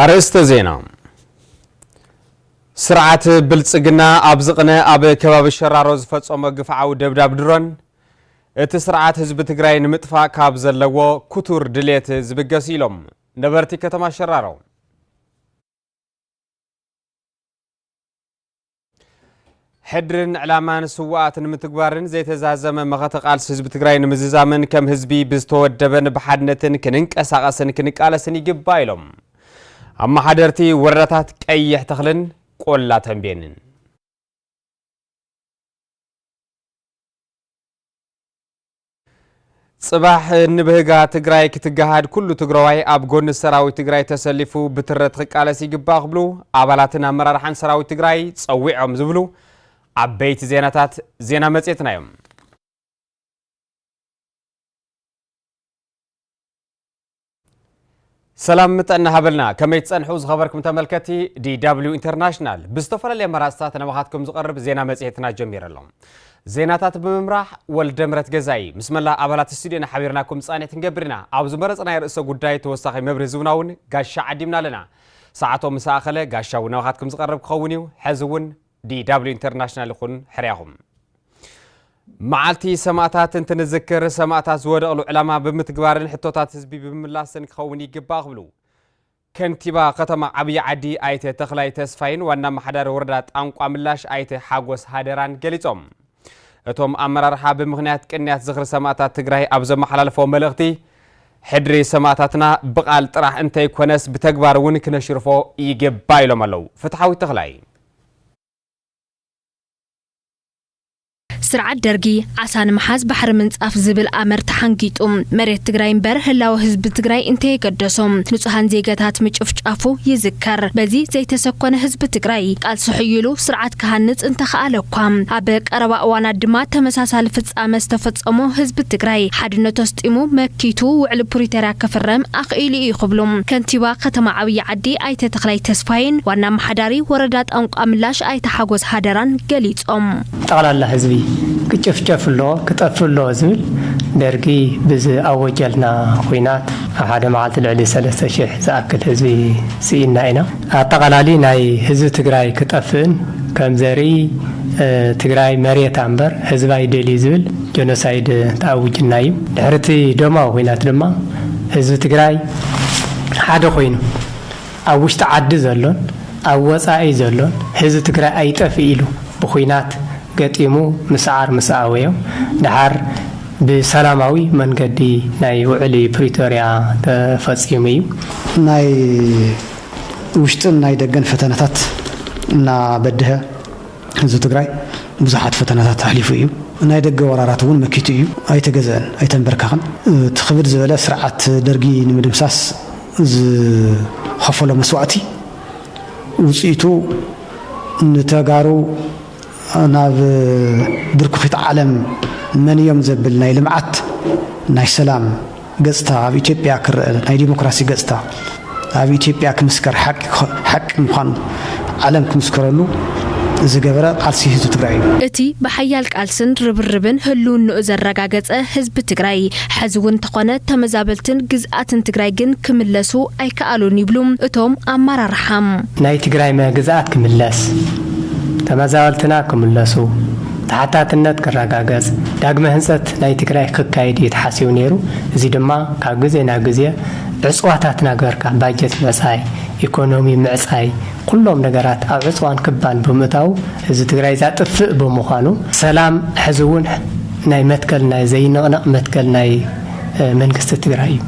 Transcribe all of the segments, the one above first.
ኣርእስተ ዜና ስርዓት ብልፅግና ኣብ ዝቕነ ኣብ ከባቢ ሸራሮ ዝፈፀሞ ግፍዓዊ ደብዳብ ድሮን እቲ ስርዓት ህዝቢ ትግራይ ንምጥፋእ ካብ ዘለዎ ክቱር ድሌት ዝብገስ ኢሎም ነበርቲ ከተማ ሸራሮ ሕድርን ዕላማን ስዋኣት ንምትግባርን ዘይተዛዘመ መኸተ ቃልሲ ህዝቢ ትግራይ ንምዝዛምን ከም ህዝቢ ብዝተወደበን ብሓድነትን ክንንቀሳቐስን ክንቃለስን ይግባእ ኢሎም ኣመሓደርቲ ወረዳታት ቀይሕ ተኽልን ቆላ ተንቤንን ፅባሕ ንብህጋ ትግራይ ክትገሃድ ኩሉ ትግራዋይ ኣብ ጎኒ ሰራዊት ትግራይ ተሰሊፉ ብትረት ክቃለስ ይግባእ ክብሉ ኣባላትን ኣመራርሓን ሰራዊት ትግራይ ፀዊዖም ዝብሉ ዓበይቲ ዜናታት ዜና መፅየትና እዮም። ሰላም ጥዕና ሃበልና ከመይ ትጸንሑ ዝኸበርኩም ተመልከቲ ዲw ኢንተርናሽናል ብዝተፈላለየ መራፅታት ናባኻትኩም ዝቐርብ ዜና መጽሔትና ጀሚረ ኣሎ ዜናታት ብምምራሕ ወልደ ምረት ገዛኢ ምስ መላእ ኣባላት ስቱድዮና ሓቢርናኩም ጻኒት ክንገብር ኢና ኣብ ዝመረጽናይ ርእሰ ጉዳይ ተወሳኺ መብርህ ዝውና እውን ጋሻ ዓዲምና ኣለና ሰዓቶም ምስ ኣኸለ ጋሻ እውን ናባኻትኩም ዝቐርብ ክኸውን እዩ ሕዚ እውን DW International ይኹን ሕርያኹም። መዓልቲ ሰማእታት እንትንዝክር ሰማእታት ዝወደቕሉ ዕላማ ብምትግባርን ሕቶታት ህዝቢ ብምምላስን ክኸውን ይግባእ ክብሉ ከንቲባ ከተማ ዓብዪ ዓዲ ኣይተ ተኽላይ ተስፋይን ዋና ኣመሓዳሪ ወረዳ ጣንቋ ምላሽ ኣይተ ሓጎስ ሃደራን ገሊጾም እቶም ኣመራርሓ ብምኽንያት ቅንያት ዝኽሪ ሰማእታት ትግራይ ኣብ ዘመሓላለፎ መልእኽቲ ሕድሪ ሰማእታትና ብቓል ጥራሕ እንተይኮነስ ብተግባር እውን ክነሽርፎ ይግባ ኢሎም ኣለው ፍትሓዊት ተኽላይ ስርዓት ደርጊ ዓሳ ንምሓዝ ባሕሪ ምንፃፍ ዝብል ኣምር ተሓንጊጡ መሬት ትግራይ እምበር ህላወ ህዝቢ ትግራይ እንተየገደሶም ንፁሃን ዜገታት ምጭፍጫፉ ይዝከር። በዚ ዘይተሰኮነ ህዝቢ ትግራይ ቃልሲ ሕይሉ ስርዓት ክሃንፅ እንተኸኣለ እኳ ኣብ ቀረባ እዋናት ድማ ተመሳሳሊ ፍፃመ ዝተፈፀሞ ህዝቢ ትግራይ ሓድነቱ ኣስጢሙ መኪቱ ውዕሊ ፕሪተርያ ክፍረም ኣኽኢሉ እዩ ክብሉ ከንቲባ ከተማ ዓብይ ወዲ ኣይተ ተኽላይ ተስፋዬን ዋና ኣመሓዳሪ ወረዳ ጣንቋምላሽ ኣይተ ሓጎስ ሃደራን ገሊፆም። ጠቕላላ ህዝቢ ክጭፍጨፍ ኣሎ ክጠፍእ ኣሎ ዝብል ደርጊ ብዝኣወጀልና ኹናት ኣብ ሓደ መዓልቲ ልዕሊ ሰለስተ ሽሕ ዝኣክል ህዝቢ ስኢንና ኢና። ኣጠቓላሊ ናይ ህዝቢ ትግራይ ክጠፍእን ከም ዘርኢ ትግራይ መሬታ እምበር ህዝባ ይደልዩ ዝብል ጀኖሳይድ ተኣዊጅልና እዩ። ድሕሪ እቲ ደማዊ ኹናት ድማ ህዝቢ ትግራይ ሓደ ኮይኑ ኣብ ውሽጢ ዓዲ ዘሎን ኣብ ወፃኢ ዘሎን ህዝቢ ትግራይ ኣይጠፍእ ኢሉ ብኹናት ገጢሙ ምስዓር ምስ ኣበዮ ድሓር ብሰላማዊ መንገዲ ናይ ውዕሊ ፕሪቶርያ ተፈፂሙ እዩ። ናይ ውሽጥን ናይ ደገን ፈተነታት እናበድሀ፣ ህዝቢ ትግራይ ብዙሓት ፈተናታት ኣሕሊፉ እዩ። ናይ ደገ ወራራት እውን መኪቱ እዩ። ኣይተገዘእን፣ ኣይተንበርከኸን። እቲ ክብድ ዝበለ ስርዓት ደርጊ ንምድምሳስ ዝኸፈሎ መስዋእቲ ውፅኢቱ ንተጋሩ ናብ ብርኩኺት ዓለም መንዮም ዘብል ናይ ልምዓት፣ ናይ ሰላም፣ ገጽታ ኣብ ኢትዮጵያ ክረኣ ናይ ዲሞክራሲ ገጽታ ኣብ ኢትዮጵያ ክምስከር ሓቂ ምዃኑ ዓለም ክምስከረሉ ዝገበረ ቃልሲ ህዝቢ ትግራይ እዩ። እቲ ብሓያል ቃልስን ርብርብን ህልውንኡ ዘረጋገጸ ህዝቢ ትግራይ ሐዚ እውን እንተኾነ ተመዛበልትን ግዝኣትን ትግራይ ግን ክምለሱ ኣይከኣሉን ይብሉ እቶም ኣመራርሓ። ናይ ትግራይ ግዝኣት ክምለስ፣ ተመዛበልትና ክምለሱ፣ ተሓታትነት ክረጋገፅ፣ ዳግመ ህንፀት ናይ ትግራይ ክካየድ እዩ ተሓሲቡ ነይሩ። እዚ ድማ ካብ ግዜ ናብ ግዜ ዕፅዋታት ናገበርካ፣ ባጀት ምዕፃይ፣ ኢኮኖሚ ምዕፃይ፣ ኩሎም ነገራት ኣብ ዕፅዋን ክባን ብምእታዉ ህዝቢ ትግራይ ዛጥፍእ ብምኳኑ፣ ሰላም ሕዚ እውን ናይ መትከል ናይ ዘይንቕነቕ መትከል ናይ። መንግስቲ ትግራይ እዩ።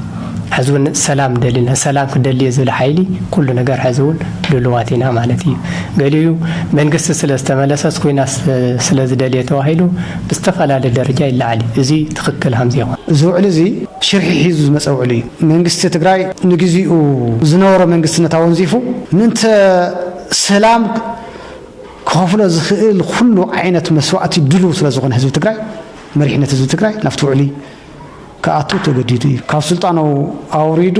ሐዚ እውን ሰላም ደሊና ሰላም ክደልየ ዝብል ሓይሊ ኩሉ ነገር ሐዚ እውን ድሉዋት ኢና ማለት እዩ። ገሊኡ መንግስቲ ስለ ዝተመለሰስ ኩናት ስለ ዝደልየ ተባሂሉ ብዝተፈላለየ ደረጃ ይለዓል እዩ። እዙይ ትኽክል ሃምዘይኾነ። እዚ ውዕሊ እዚ ሽርሒ ሒዙ ዝመፀ ውዕሊ እዩ። መንግስቲ ትግራይ ንግዚኡ ዝነበሮ መንግስትነት ኣወንዚፉ ምእንተ ሰላም ክኸፍሎ ዝኽእል ኹሉ ዓይነት መስዋእቲ ድሉው ስለ ዝኾነ ህዝቢ ትግራይ፣ መሪሕነት ህዝቢ ትግራይ ናብቲ ውዕሊ ክኣቱ ተገዲዱ እዩ። ካብ ስልጣኑ ኣውሪዱ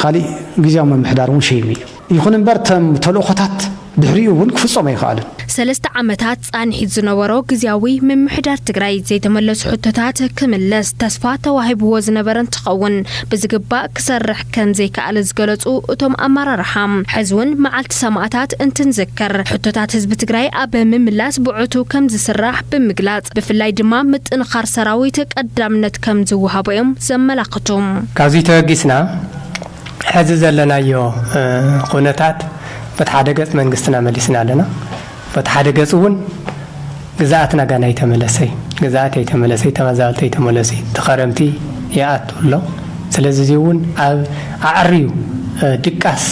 ኻሊእ ግዝያዊ ምምሕዳር እውን ሸይሙ እዩ። ይኹን እምበር እቶም ተልእኾታት ድሕሪኡ እውን ክፍፀሙ ኣይኸኣሉን። ሰለስተ ዓመታት ፃንሒት ዝነበሮ ግዝያዊ ምምሕዳር ትግራይ ዘይተመለሱ ሕቶታት ክምልስ ተስፋ ተዋሂብዎ ዝነበረ እንትኸውን ብዝግባእ ክሰርሕ ከም ዘይከኣለ ዝገለፁ እቶም ኣመራርሓ፣ ሕዚ ውን መዓልቲ ሰማእታት እንትንዝክር ሕቶታት ህዝቢ ትግራይ ኣብ ምምላስ ብዕቱብ ከም ዝስራሕ ብምግላፅ፣ ብፍላይ ድማ ምጥንኻር ሰራዊት ቀዳምነት ከም ዝወሃቦ ዮም ዘመላኽቱ። ካብዙይ ተበጊስና ሕዚ ዘለናዮ ኹነታት በቲ ሓደ ገፅ መንግስትና መሊስና ኣለና። በቲ ሓደ ገፅ እውን ግዝኣት ናጋን ኣይተመለሰይ፣ ግዝኣት ኣይተመለሰይ፣ ተመዛበልቲ ኣይተመለሱይ፣ እቲ ኸረምቲ ይኣቱ ኣሎ። ስለዚ እዙይ እውን ኣብ ኣዐርዩ ድቃስ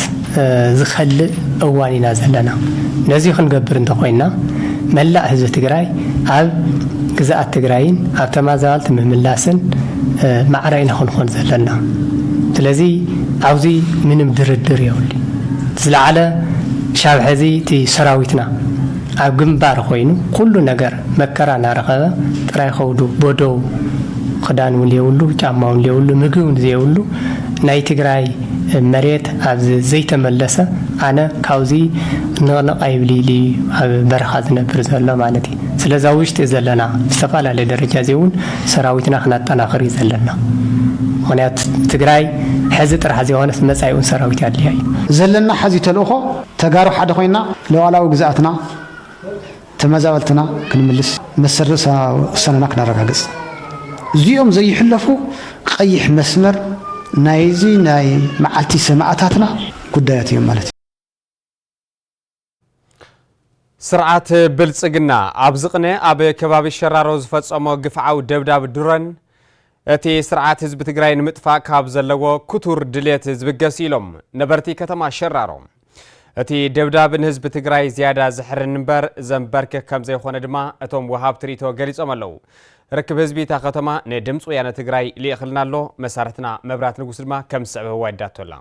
ዝኸልእ እዋን ኢና ዘለና። ነዙይ ኽንገብር እንተኾይንና መላእ ህዝቢ ትግራይ ኣብ ግዝኣት ትግራይን ኣብ ተመዛበልቲ ምምላስን ማዕረ ኢና ኽንኾን ዘለና። ስለዚ ኣብዙይ ምንም ድርድር የብሉይ። እቲ ዝለዓለ ክሻብ ሐዚ እቲ ሰራዊትና ኣብ ግምባር ኾይኑ ኹሉ ነገር መከራ ናረኸበ ጥራይ ኸውዱ ቦዶው ኽዳን ውን የብሉ ጫማ ውን የብሉ ምግቢ ውን ዘየብሉ ናይ ትግራይ መሬት ኣብ ዘይተመለሰ ኣነ ካውዚ ንቕንቕ ኣይብልይ ልዩ ኣብ በረኻ ዝነብር ዘሎ ማለት እዩ ስለዛ ውሽጢ ዘለና ብዝተፋላለየ ደረጃ እዚይ ውን ሰራዊትና ክናጠናኽር እዩ ዘለና ምኽንያት ትግራይ ሐዚ ጥራሕ ዘይኾነስ መፃኢኡን ሰራዊት ኣድልያ እዩ። ዘለና ሐዚ ተልእኾ ተጋሩ ሐደ ኾይንና ሉኣላዊ ግዝኣትና ተመዛበልትና ክንምልስ መሰል ርእሰ ውሳነና ክነረጋግፅ እዚኦም ዘይሕለፉ ቐይሕ መስመር ናይዚ ናይ መዓልቲ ሰማእታትና ጉዳያት እዮም ማለት እዩ። ስርዓት ብልፅግና ኣብ ዝቕነ ኣብ ከባቢ ሸራሮ ዝፈፀሞ ግፍዓዊ ደብዳብ ድሮን እቲ ስርዓት ህዝቢ ትግራይ ንምጥፋእ ካብ ዘለዎ ክቱር ድሌት ዝብገስ ኢሎም ነበርቲ ከተማ ሸራሮ እቲ ደብዳብ ንህዝቢ ትግራይ ዝያዳ ዝሕርን እምበር ዘንበርክክ ከም ዘይኮነ ድማ እቶም ወሃብቲ ርእቶ ገሊፆም ኣለው ርክብ ህዝቢ እታ ከተማ ንድምፂ ወያነ ትግራይ ልኢኽልና ኣሎ መሳርሕትና መብራት ንጉስ ድማ ከም ዝስዕብ ህዋ ይዳቶ ኣላ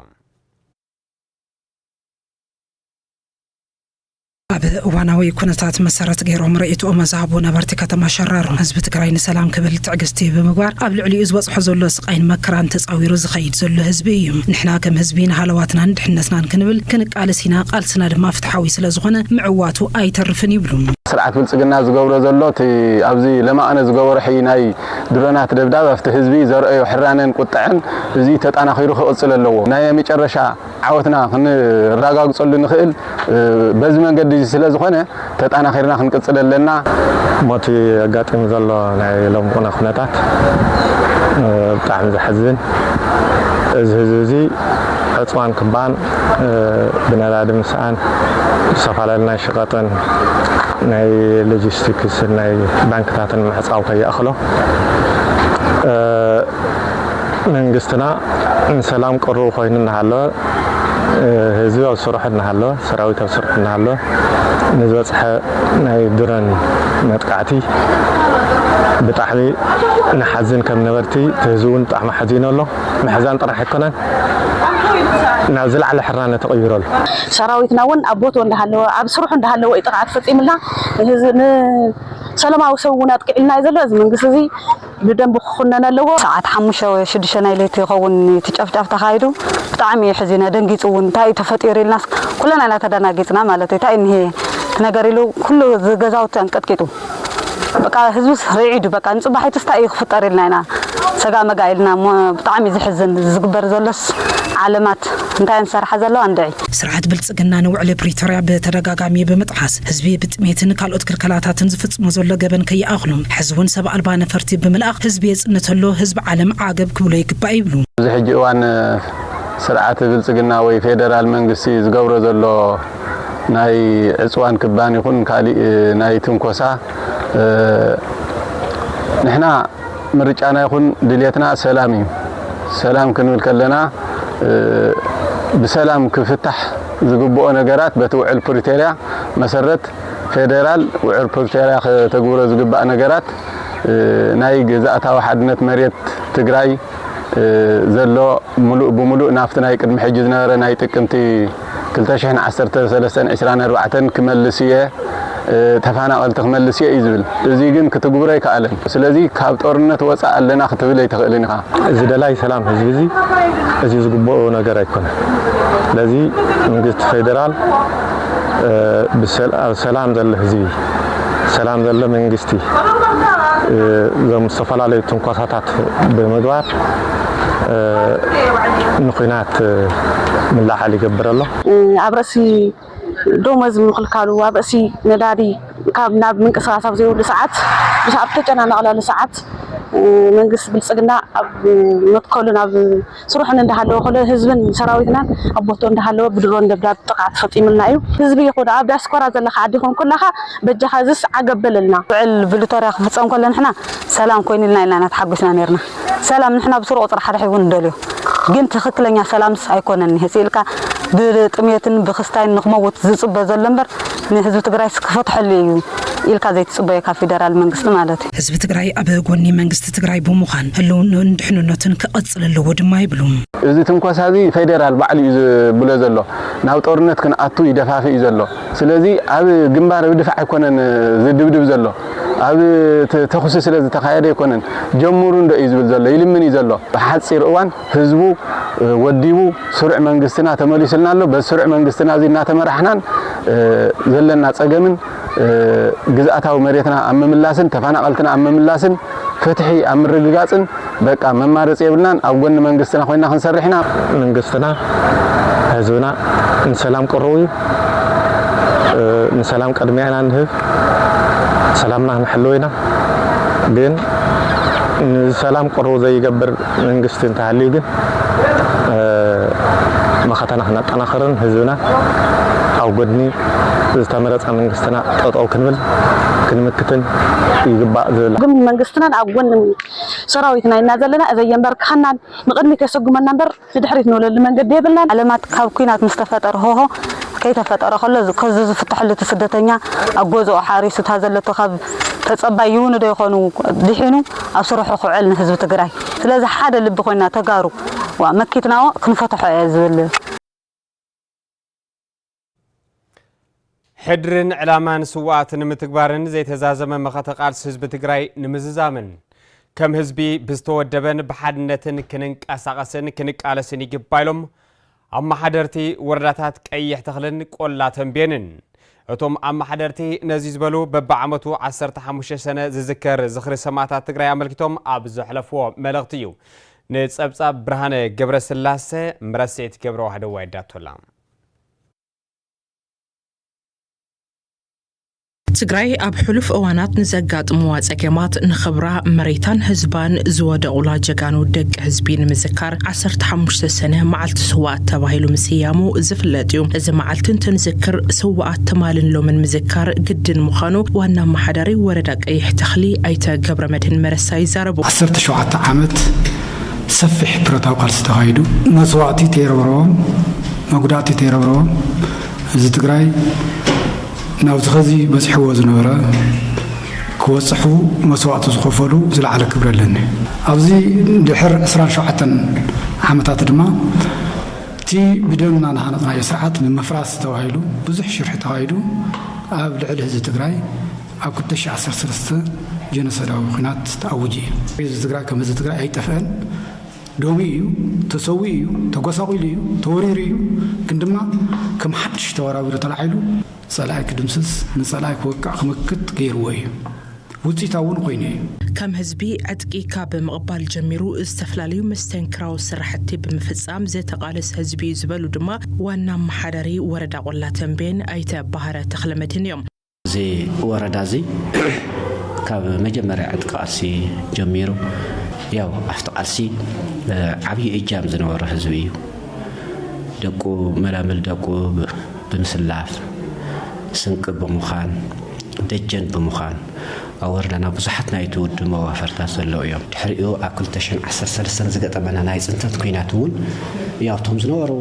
ኣብ እዋናዊ ኩነታት መሰረት ገይሮም ርእይትኦም ዝሃቡ ነበርቲ ከተማ ሸራሮ፣ ህዝቢ ትግራይ ንሰላም ክብል ትዕግስቲ ብምግባር ኣብ ልዕሊኡ ዝበፅሖ ዘሎ ስቓይን መከራን ተፃዊሩ ዝኸይድ ዘሎ ህዝቢ እዩ። ንሕና ከም ህዝቢ ንሃለዋትናን ድሕነትናን ክንብል ክንቃለስ ኢና፣ ቃልስና ድማ ፍትሓዊ ስለዝኾነ ምዕዋቱ ኣይተርፍን ይብሉ። ስርዓት ብልፅግና ዝገብሮ ዘሎ እቲ ኣብዚ ለማኣነ ዝገበሮ ሕይ ናይ ድሮናት ደብዳብ ኣብቲ ህዝቢ ዘርኣዮ ሕራነን ቁጠዐን እዙይ ተጣናኺሩ ክቕፅል ኣለዎ። ናይ መጨረሻ ዓወትና ክንራጋግጸሉ እንኽእል በዚ መንገዲ እዚ ስለ ዝኾነ ተጣናኺርና ክንቅጽል ኣለና። ሞቲ ኣጋጢሙ ዘሎ ናይ ሎም ቁነ ኩነታት ብጣዕሚ ዘሕዝን እዚ ህዝቢ እዚ ዕፅዋን ክባን ብነዳዲ ምስኣን ዝተፈላለዩ ናይ ሸቀጥን ናይ ሎጂስቲክስን ናይ ባንክታትን ምዕፃው ከይኣኽሎ መንግስትና ንሰላም ቅሩብ ኮይኑ እናሃለወ፣ ህዝቢ ኣብ ስርሑ እናሃለወ፣ ሰራዊት ኣብ ስርሑ እናሃለወ ንዝበፅሐ ናይ ድሮን መጥቃዕቲ ብጣዕሚ ንሓዝን ከም ነበርቲ፣ እቲ ህዝቢ እውን ብጣዕሚ ሓዚኑ ኣሎ። ምሕዛን ጥራሕ ኣይኮነን ናብ ዝለዓለ ሕራነ ተቐይሩ ኣሎ። ሰራዊትና እውን ኣብ ቦትኡ እንዳሃለወ ኣብ ስርሑ እንዳሃለወ እዩ ጥቕዓት ፈፂምልና። ንሰለማዊ ሰብ እውን ኣጥቂዑልና እዩ ዘሎ። እዚ መንግስቲ እዚ ብደንቢ ክኹነን ኣለዎ። ሰዓት ሓሙሽተ ወይ ሽዱሽተ ናይ ለይቲ ይኸውን እቲ ጨፍጫፍ ተኻይዱ። ብጣዕሚ እየ ሐዚነ ደንጊፁ እውን እንታይ እዩ ተፈጢሩ ኢልናስ ኩልና ኢና ተደናጊፅና ማለት እዩ። እንታይ እዩ እኒሀ እቲ ነገር ኢሉ ኩሉ ገዛውቲ ኣንቀጥቂጡ በቃ ህዝብስ ርዒዱ በቃ ንፅባሒቱስ እንታይ እዩ ክፍጠር ኢልና ኢና ሰጋእ መጋእ ኢልና እሞ ብጣዕሚ እዩ ዘሕዝን እዚ ዝግበር ዘሎስ ዓለማት እንታይ እየን ዝሰርሓ ዘለዋ እንድዒ። ስርዓት ብልፅግና ግና ንውዕሊ ፕሪቶርያ ብተደጋጋሚ ብምጥሓስ ህዝቢ ብጥሜትን ካልኦት ክልከላታትን ዝፍፅሞ ዘሎ ገበን ከይኣኽሎ ሕዚ እውን ሰብ ኣልባ ነፈርቲ ብምልኣኽ ህዝቢ የፅንት ኣሎ፣ ህዝቢ ዓለም ዓገብ ክብሎ ይግባእ ይብሉ። ኣብዚ ሕጂ እዋን ስርዓት ብልፅግና ወይ ፌደራል መንግስቲ ዝገብሮ ዘሎ ናይ ዕፅዋን ክባን ይኹን ካሊእ ናይ ትንኮሳ ንሕና ምርጫና ይኹን ድልየትና ሰላም እዩ። ሰላም ክንብል ከለና ብሰላም ክፍታሕ ዝግብኦ ነገራት በቲ ውዕል ፕሪቶርያ መሰረት ፌደራል ውዕል ፕሪቶርያ ከተግብሮ ዝግባእ ነገራት ናይ ግዝኣታዊ ሓድነት መሬት ትግራይ ዘሎ ምሉእ ብምሉእ ናብቲ ናይ ቅድሚ ሕጂ ዝነበረ ናይ ጥቅምቲ ክልተ ሽሕን ዓሰርተ ሰለስተን ዕስራን ኣርባዕተን ክመልስ እየ፣ ተፋናቐልቲ ክመልስ እየ እዩ ዝብል። እዙይ ግን ክትግብሮ ኣይከኣለን። ስለዚ ካብ ጦርነት ወፃእ ኣለና ክትብል ኣይትኽእልን ኢኻ። እዚ ደላይ ሰላም ህዝቢ እዚ እዚ ዝግበኦ ነገር ኣይኮነን። ስለዚ መንግስቲ ፌደራል ኣብ ሰላም ዘሎ ህዝቢ፣ ሰላም ዘሎ መንግስቲ እዞም ዝተፈላለዩ ትንኮሳታት ብምግባር ንኩናት ምልዕዓል ይገብር ኣሎ። ኣብ ርእሲ ዶሞዝ ምክልካሉ፣ ኣብ ርእሲ ነዳዲ ካብ ናብ ምንቅስቃስ ኣብ ዘይብሉ ሰዓት ምስ ኣብ ተጨናነቅለሉ ሰዓት መንግስቲ ብልጽግና ኣብ መትከሉን ኣብ ስርሑን እንዳሃለወ ኮሎ ህዝብን ሰራዊትናን ኣብ ቦትኡ እንዳሃለወ ብድሮን ደብዳብ ጥቅዓት ፈጺሙልና እዩ። ህዝቢ ይኩን ኣብ ዲያስፖራ ዘለካ ዓዲ ይኩን ኩላካ በጃካ እዚስ ዓገብ በለልና። ውዕል ብልቶርያ ክፍጸም ኮሎ ንሕና ሰላም ኮይኑልና ኢልና ኢና ተሓጉስና ኔርና። ሰላም ንሕና ብሱሩ ቁጽሪ ሓደ ሕቡ ንደልዮ ግን ትክክለኛ ሰላምስ ኣይኮነን ንህጽ ኢልካ ብጥምየትን ብክስታይን ንክመውት ዝጽበ ዘሎ እምበር ንህዝቢ ትግራይስ ክፈትሐሉ ኢዩ ኢልካ ዘይትጽበዮ ካብ ፊደራል መንግስቲ ማለት ኢዩ። ህዝቢ ትግራይ ኣብ ጎኒ መንግስቲ ትግራይ ብምዃን ህልውንኡን ድሕንነቱን ክቐፅል ኣለዎ ድማ ይብሉ። እዚ ትንኮሳ እዚ ፌዴራል ባዕሉ እዩ ዝብሎ ዘሎ ናብ ጦርነት ክንኣቱ ይደፋፍእ እዩ ዘሎ። ስለዚ ኣብ ግንባር ብ ድፋዕ ኣይኮነን ዝድብድብ ዘሎ ኣብ ተኹሲ ስለ ዝተኻየደ ኣይኮነን ጀምሩ እንዶ እዩ ዝብል ዘሎ ይልምን እዩ ዘሎ ብ ሓጺር እዋን ህዝቡ ወዲቡ ስሩዕ መንግስትና ተመሊሱልና ኣሎ በዚ ስሩዕ መንግስትና እዚ እናተመራሕናን ዘለና ጸገምን ግዝኣታዊ መሬትና ኣብ ምምላስን ተፋናቐልትና ኣብ ምምላስን ፍትሒ ኣብ ምርግጋፅን በቃ መማረፂ የብልናን ኣብ ጎኒ መንግስትና ኮይና ክንሰርሕ ኢና። መንግስትና ህዝብና ንሰላም ቅሩብ እዩ ንሰላም ቅድሚያ ኢና ንህብ ሰላምና ክንሕልው ኢና ግን ንሰላም ቅሩብ ዘይገብር መንግስቲ እንተሃልዩ ግን መኸተና ክነጠናኽርን ህዝብና ኣብ ጎድኒ ዝተመረፀ መንግስትና ጠጠው ክንብል ክንምክትን ይግባእ ዝብል ግን መንግስትናን ኣብ ጎኒ ሰራዊትና ኢና ዘለና እዘይ የንበርክኸናን ንቕድሚት የሰጉመና እምበር ንድሕሪት ንብለሉ መንገዲ የብልናን ዓለማት ካብ ኩናት ምስ ተፈጠረ ሆሆ ከይተፈጠረ ከሎ ከዚ ዝፍትሐሉ እቲ ስደተኛ ኣብ ገዝኦ ሓሪሱ እታ ዘለቶ ካብ ተፀባይ ይውንዶ ይኾኑ ድሒኑ ኣብ ስርሑ ክውዕል ንህዝቢ ትግራይ ስለዚ ሓደ ልቢ ኮይና ተጋሩ ዋእ መኪትናዎ ክንፈትሖ እየ ዝብል። ሕድርን ዕላማን ስውኣት ንምትግባርን ዘይተዛዘመ መኸተ ቃልሲ ህዝቢ ትግራይ ንምዝዛምን ከም ህዝቢ ብዝተወደበን ብሓድነትን ክንንቀሳቐስን ክንቃለስን ይግባ ኢሎም ኣመሓደርቲ ወረዳታት ቀይሕ ተኽልን ቆላ ተምቤንን እቶም ኣመሓደርቲ ነዚ ዝበሉ በብዓመቱ ዓሰርተ ሓሙሽተ ሰነ ዝዝከር ዝኽሪ ሰማእታት ትግራይ ኣመልኪቶም ኣብ ዘሕለፍዎ መልእኽቲ እዩ። ንፀብፃብ ብርሃነ ገብረስላሰ ምረስዒት ገብረዋህደዋ የዳቶላ። ትግራይ ኣብ ሕሉፍ እዋናት ንዘጋጥምዋ ፀገማት ንኽብራ መሬታን ህዝባን ዝወደቑላ ጀጋኑ ደቂ ህዝቢ ንምዝካር ዓሰርተ ሓሙሽተ ሰነ መዓልቲ ስዋኣት ተባሂሉ ምስያሙ ዝፍለጥ እዩ። እዚ መዓልቲ እንትንዝክር ስዋኣት ትማልን ሎምን ምዝካር ግድን ምዃኑ ዋና ኣመሓዳሪ ወረዳ ቀይሕ ተኽሊ ኣይተ ገብረመድህን መረሳ ይዛረቡ። ዓሰርተ ሸውዓተ ዓመት ሰፊሕ ብረታዊ ቃልሲ ተኻይዱ መስዋእቲ ተይረብረቦም መጉዳእቲ ተይረብረቦም ህዝቢ ትግራይ ናብቲ ኸዚ በጺሕዎ ዝነበረ ክበጽሑ መስዋእቲ ዝኸፈሉ ዝለዓለ ክብሪ ኣለኒ። ኣብዚ ድሕር ዕስራን ሸውዓተን ዓመታት ድማ እቲ ብደምና ዝሃነጽናዮ ስርዓት ንምፍራስ ተባሂሉ ብዙሕ ሽርሒ ተኻይዱ ኣብ ልዕሊ ህዝቢ ትግራይ ኣብ ክልተ ሽሕ ዓሰርተ ሰለስተ ጀኖሶዳዊ ኹናት ተኣዊጁ እዩ። ህዝቢ ትግራይ ከም ህዝቢ ትግራይ ኣይጠፍእን ዶቡ ኢዩ፣ ተሰዊኡ ኢዩ፣ ተጎሳቂሉ ኢዩ፣ ተወሪሩ ኢዩ፣ ግን ድማ ከም ሓድሽ ተወራዊሩ ተላዒሉ ጸላኢ ክድምስስ፣ ንጸላኢ ክወቅዕ ክምክት ገይርዎ ኢዩ። ውጺኢታዊ እውን ኮይኑ ኢዩ። ከም ህዝቢ ዕጥቂ ካብ ምቕባል ጀሚሩ ዝተፈላለዩ መስተንክራዊ ስራሕቲ ብምፍጻም ዝተቓለሰ ህዝቢ ኢዩ ዝበሉ ድማ ዋና ኣመሓዳሪ ወረዳ ቆላ ተምቤን ኣይተ ባህረ ተኽለመድህን ኢዮም። እዚ ወረዳ እዚ ካብ መጀመርያ ዕጥቂ ቃልሲ ጀሚሩ ያው ኣብቲ ቃልሲ ዓብዪ እጃም ዝነበሮ ህዝቢ እዩ። ደቁ መላምል ደቁ ብምስላፍ ስንቂ ብምዃን ደጀን ብምዃን ኣብ ወረዳና ብዙሓት ናይቲ ውድብ መዋፈርታት ዘለዉ እዮም። ድሕሪኡ ኣብ ክልተ ሽሕን ዓሰርተ ሰለስተን ዝገጠመና ናይ ፅንተት ኲናት እውን ያውቶም ዝነበሩ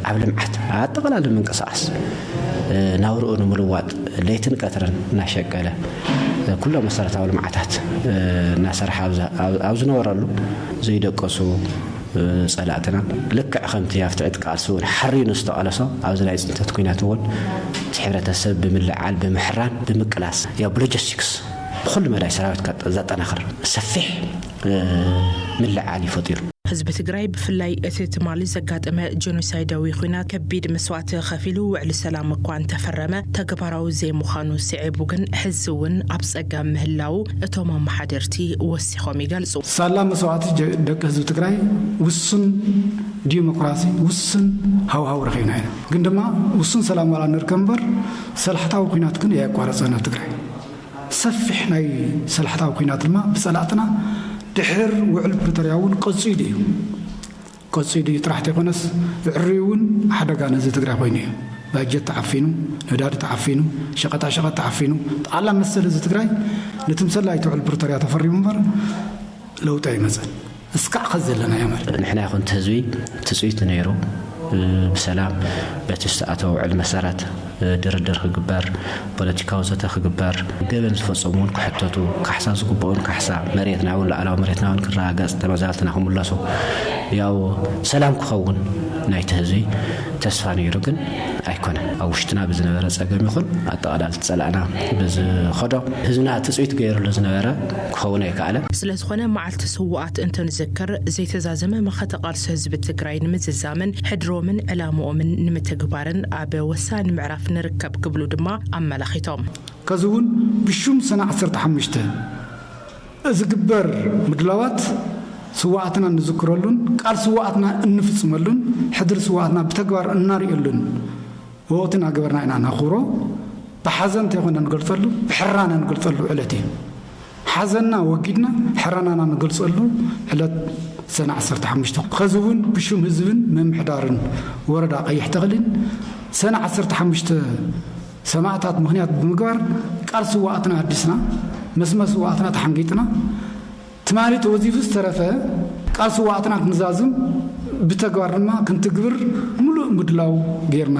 ኣብ ልምዓት ኣጠቓላሊ ምንቅስቓስ ናብርኡ ንምልዋጥ ለይትን ቀትርን እናሸቀለ ኩሎም መሰረታዊ ልምዓታት እናሰርሓ ኣብ ዝነበረሉ ዘይደቀሱ ጸላእትና ልክዕ ከምቲ ኣብቲ ዕጥቃት ስውር ሓሪኑ ዝተቐለሶ ኣብዚ ናይ ጽንተት ኩናት እውን እቲ ሕብረተሰብ ብምልዕዓል ብምሕራን ብምቅላስ ያው ብሎጀስቲክስ ብኹሉ መዳይ ሰራዊትካ ዘጠናኽር ሰፊሕ ምልዕዓል እዩ ፈጢሩ። ህዝቢ ትግራይ ብፍላይ እቲ ትማሊ ዘጋጠመ ጀኖሳይዳዊ ኹናት ከቢድ መስዋእቲ ኸፊሉ ውዕሊ ሰላም እኳ እንተፈረመ ተግባራዊ ዘይምዃኑ ስዒቡ ግን ሕዚ እውን ኣብ ፀገም ምህላዉ እቶም ኣመሓደርቲ ወሲኾም ወሲኾም ይገልጹ። ሳላ መስዋእቲ ደቂ ህዝቢ ትግራይ ውሱን ዲሞክራሲ፣ ውሱን ሃውሃው ረኺብና ኢና። ግን ድማ ውሱን ሰላም ዋላ ንርከብ እምበር ሰላሕታዊ ኩናት ግን እያቋረጸን ኣብ ትግራይ። ሰፊሕ ናይ ሰላሕታዊ ኩናት ድማ ብጸላእትና ድሕር ውዕል ፕሪቶርያ እውን ቀጺሉ እዩ። ቀፂሉ እዩ ጥራሕ ተይኮነስ ብዕሪኡ እውን ሓደጋ ንህዝቢ ትግራይ ኮይኑ እዩ። ባጀት ተዓፊኑ፣ ነዳዲ ተዓፊኑ፣ ሸቀጣሸቀጥ ተዓፊኑ፣ ጠቓላ መሰል ህዝቢ ትግራይ ንትምሰል ኣይተ ውዕል ፕሪቶርያ ተፈሪሙ እምበር ለውጢ ኣይመፀን። እስካዕ ከዚ ዘለናዮ ማለት። ንሕና ይኹን እቲ ህዝቢ ትፅቢቱ ነይሩ ብሰላም በቲ ዝተኣተወ ውዕል መሰረት ድርድር ክግበር፣ ፖለቲካዊ ዘተ ክግበር፣ ገበን ዝፈጸሙ እውን ክሕተቱ፣ ካሕሳ ዝግብኦም ካሕሳ፣ መሬትና እውን ሉዓላዊ መሬትና እውን ክረጋገጽ፣ ተመዛበልትና ክምለሱ፣ ያው ሰላም ክኸውን ናይቲ ህዝቢ ተስፋ ነይሩ ግን ኣይኮነን። ኣብ ውሽጥና ብዝነበረ ጸገም ይኹን ኣጠቓላሊ ዝጸላእና ብዝኸዶ ህዝብና ትጽቢት ገይርሉ ዝነበረ ክኸውን ኣይከኣለን። ስለዝኾነ መዓልቲ ስውኣት እንትንዝክር ዘይተዛዘመ መኸተ ቃልሲ ህዝቢ ትግራይ ንምዝዛምን ሕድሮምን ዕላምኦምን ንምትግባርን፣ ኣብ ወሳኒ ምዕራፍ ንርከብ ክብሉ ድማ ኣመላኺቶም። ከዚ እውን ብሹም ሰነ ዓሰርተ ሓሙሽተ ዝግበር ምድላዋት ስውኣትና እንዝክረሉን ቃል ስውኣትና እንፍፅመሉን ሕድሪ ስውኣትና ብተግባር እናርእየሉን ወቕቲ እናገበርና ኢና ነኽብሮ። ብሓዘን እንተይኮነ ንገልፀሉ ብሕራነ ንገልፀሉ ዕለት እዩ። ሓዘንና ወጊድና ሕረናና ንገልጸሉ ዕለት ሰነ ዓሰርተ ሓሙሽተ ኸዚ እውን ብሹም ህዝብን ምምሕዳርን ወረዳ ቀይሕ ተኽሊን ሰነ ዓሰርተ ሓሙሽተ ሰማእታት ምኽንያት ብምግባር ቃል ስውኣትና ኣዲስና መስመር ስውኣትና ተሓንጊጥና ትማሊ ተወዚፉ ዝተረፈ ቃል ስውኣትና ክንዛዝም ብተግባር ድማ ክንትግብር ሙሉእ ምድላው ገይርና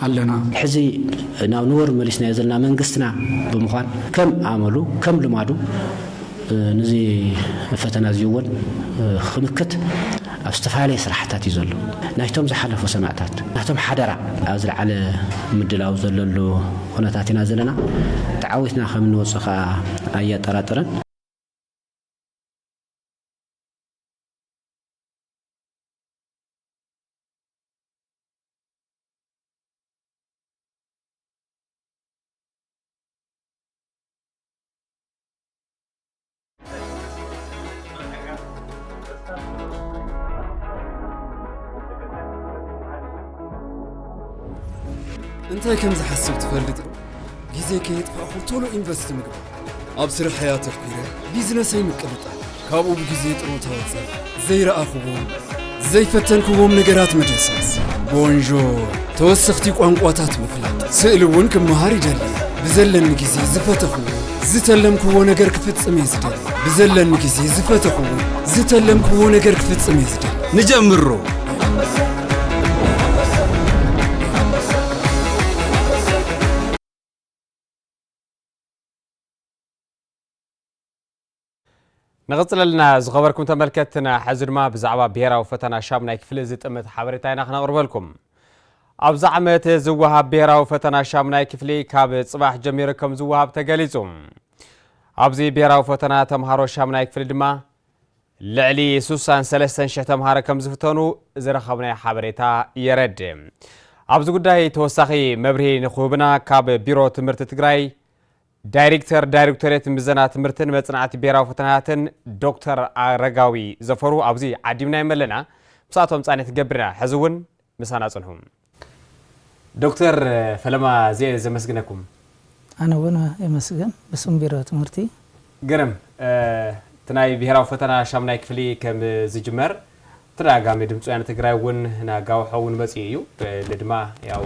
ኣለና። ሕዚ ናብ ንቡር መሊስናዮ ዘለና መንግስትና ብምዃን ከም ኣመሉ ከም ልማዱ ንዚ ፈተና እዚ እውን ኽምክት ኣብ ዝተፈላለየ ስራሕታት እዩ ዘሎ። ናይቶም ዝሓለፉ ሰማእታት ናቶም ሓደራ ኣብ ዝለዓለ ምድላው ዘለሉ ኹነታት ኢና ዘለና። ተዓዊትና ከም እንወፅእ ኸዓ ኣየጠራጥርን። እንታይ ከም ዝሓስብ ትፈልጥ ዶ ግዜ ከየጥፋእኹ ቶሎ ኢንቨስት ምግባር ኣብ ስርሐይ ኣተኲረ ቢዝነሰይ ምቅልጣል ካብኡ ብግዜ ጥሮታ ወፀ ዘይረኣኽዎም ዘይፈተንክዎም ነገራት ምድህሳስ ቦንዦ ተወሰኽቲ ቋንቋታት ምፍላጥ ስእሊ እውን ክመሃር ይደሊ ብዘለኒ ግዜ ዝፈተኽዎ ዝተለምክዎ ነገር ክፍጽም እየ ዝደሊ ብዘለኒ ግዜ ዝፈተኽዎ ዝተለምክዎ ነገር ክፍጽም እየ ዝደሊ ንጀምሮ ንቕፅለልና ዝኸበርኩም ተመልከትና ሕዚ ድማ ብዛዕባ ብሄራዊ ፈተና ሻሙናይ ክፍሊ ዝጥምት ሓበሬታ ኢና ክነቕርበልኩም ኣብዚ ዓመት ዝወሃብ ብሄራዊ ፈተና ሻሙናይ ክፍሊ ካብ ጽባሕ ጀሚሩ ከም ዝወሃብ ተገሊጹ። ኣብዚ ብሄራዊ ፈተና ተምሃሮ ሻሙናይ ክፍሊ ድማ ልዕሊ ሱሳን ሰለስተን ሽሕ ተምሃሮ ከም ዝፍተኑ ዝረኸብናዮ ሓበሬታ የረድ ኣብዚ ጉዳይ ተወሳኺ መብርሂ ንክህቡና ካብ ቢሮ ትምህርቲ ትግራይ ዳይሬክተር ዳይሬክቶሬት ምዘና ትምህርትን መፅናዕቲ ብሔራዊ ፈተናታትን ዶክተር ኣረጋዊ ዘፈሩ ኣብዚ ዓዲምናዮም ኣለና ምሳቶም ፃኒሕ ትገብርና ሕዚ እውን ምሳና ፅንሑ ዶክተር ፈለማ እዝየ ዘመስግነኩም። ኣነ እውን የመስግን ብስም ቢሮ ትምህርቲ። ግርም እቲ ናይ ብሄራዊ ፈተና ሻሙናይ ክፍሊ ከም ዝጅመር ተደጋጋሚ ድምፂ ወያነ ትግራይ እውን ናጋውሖ እውን መፂኡ እዩ እል ድማ ያው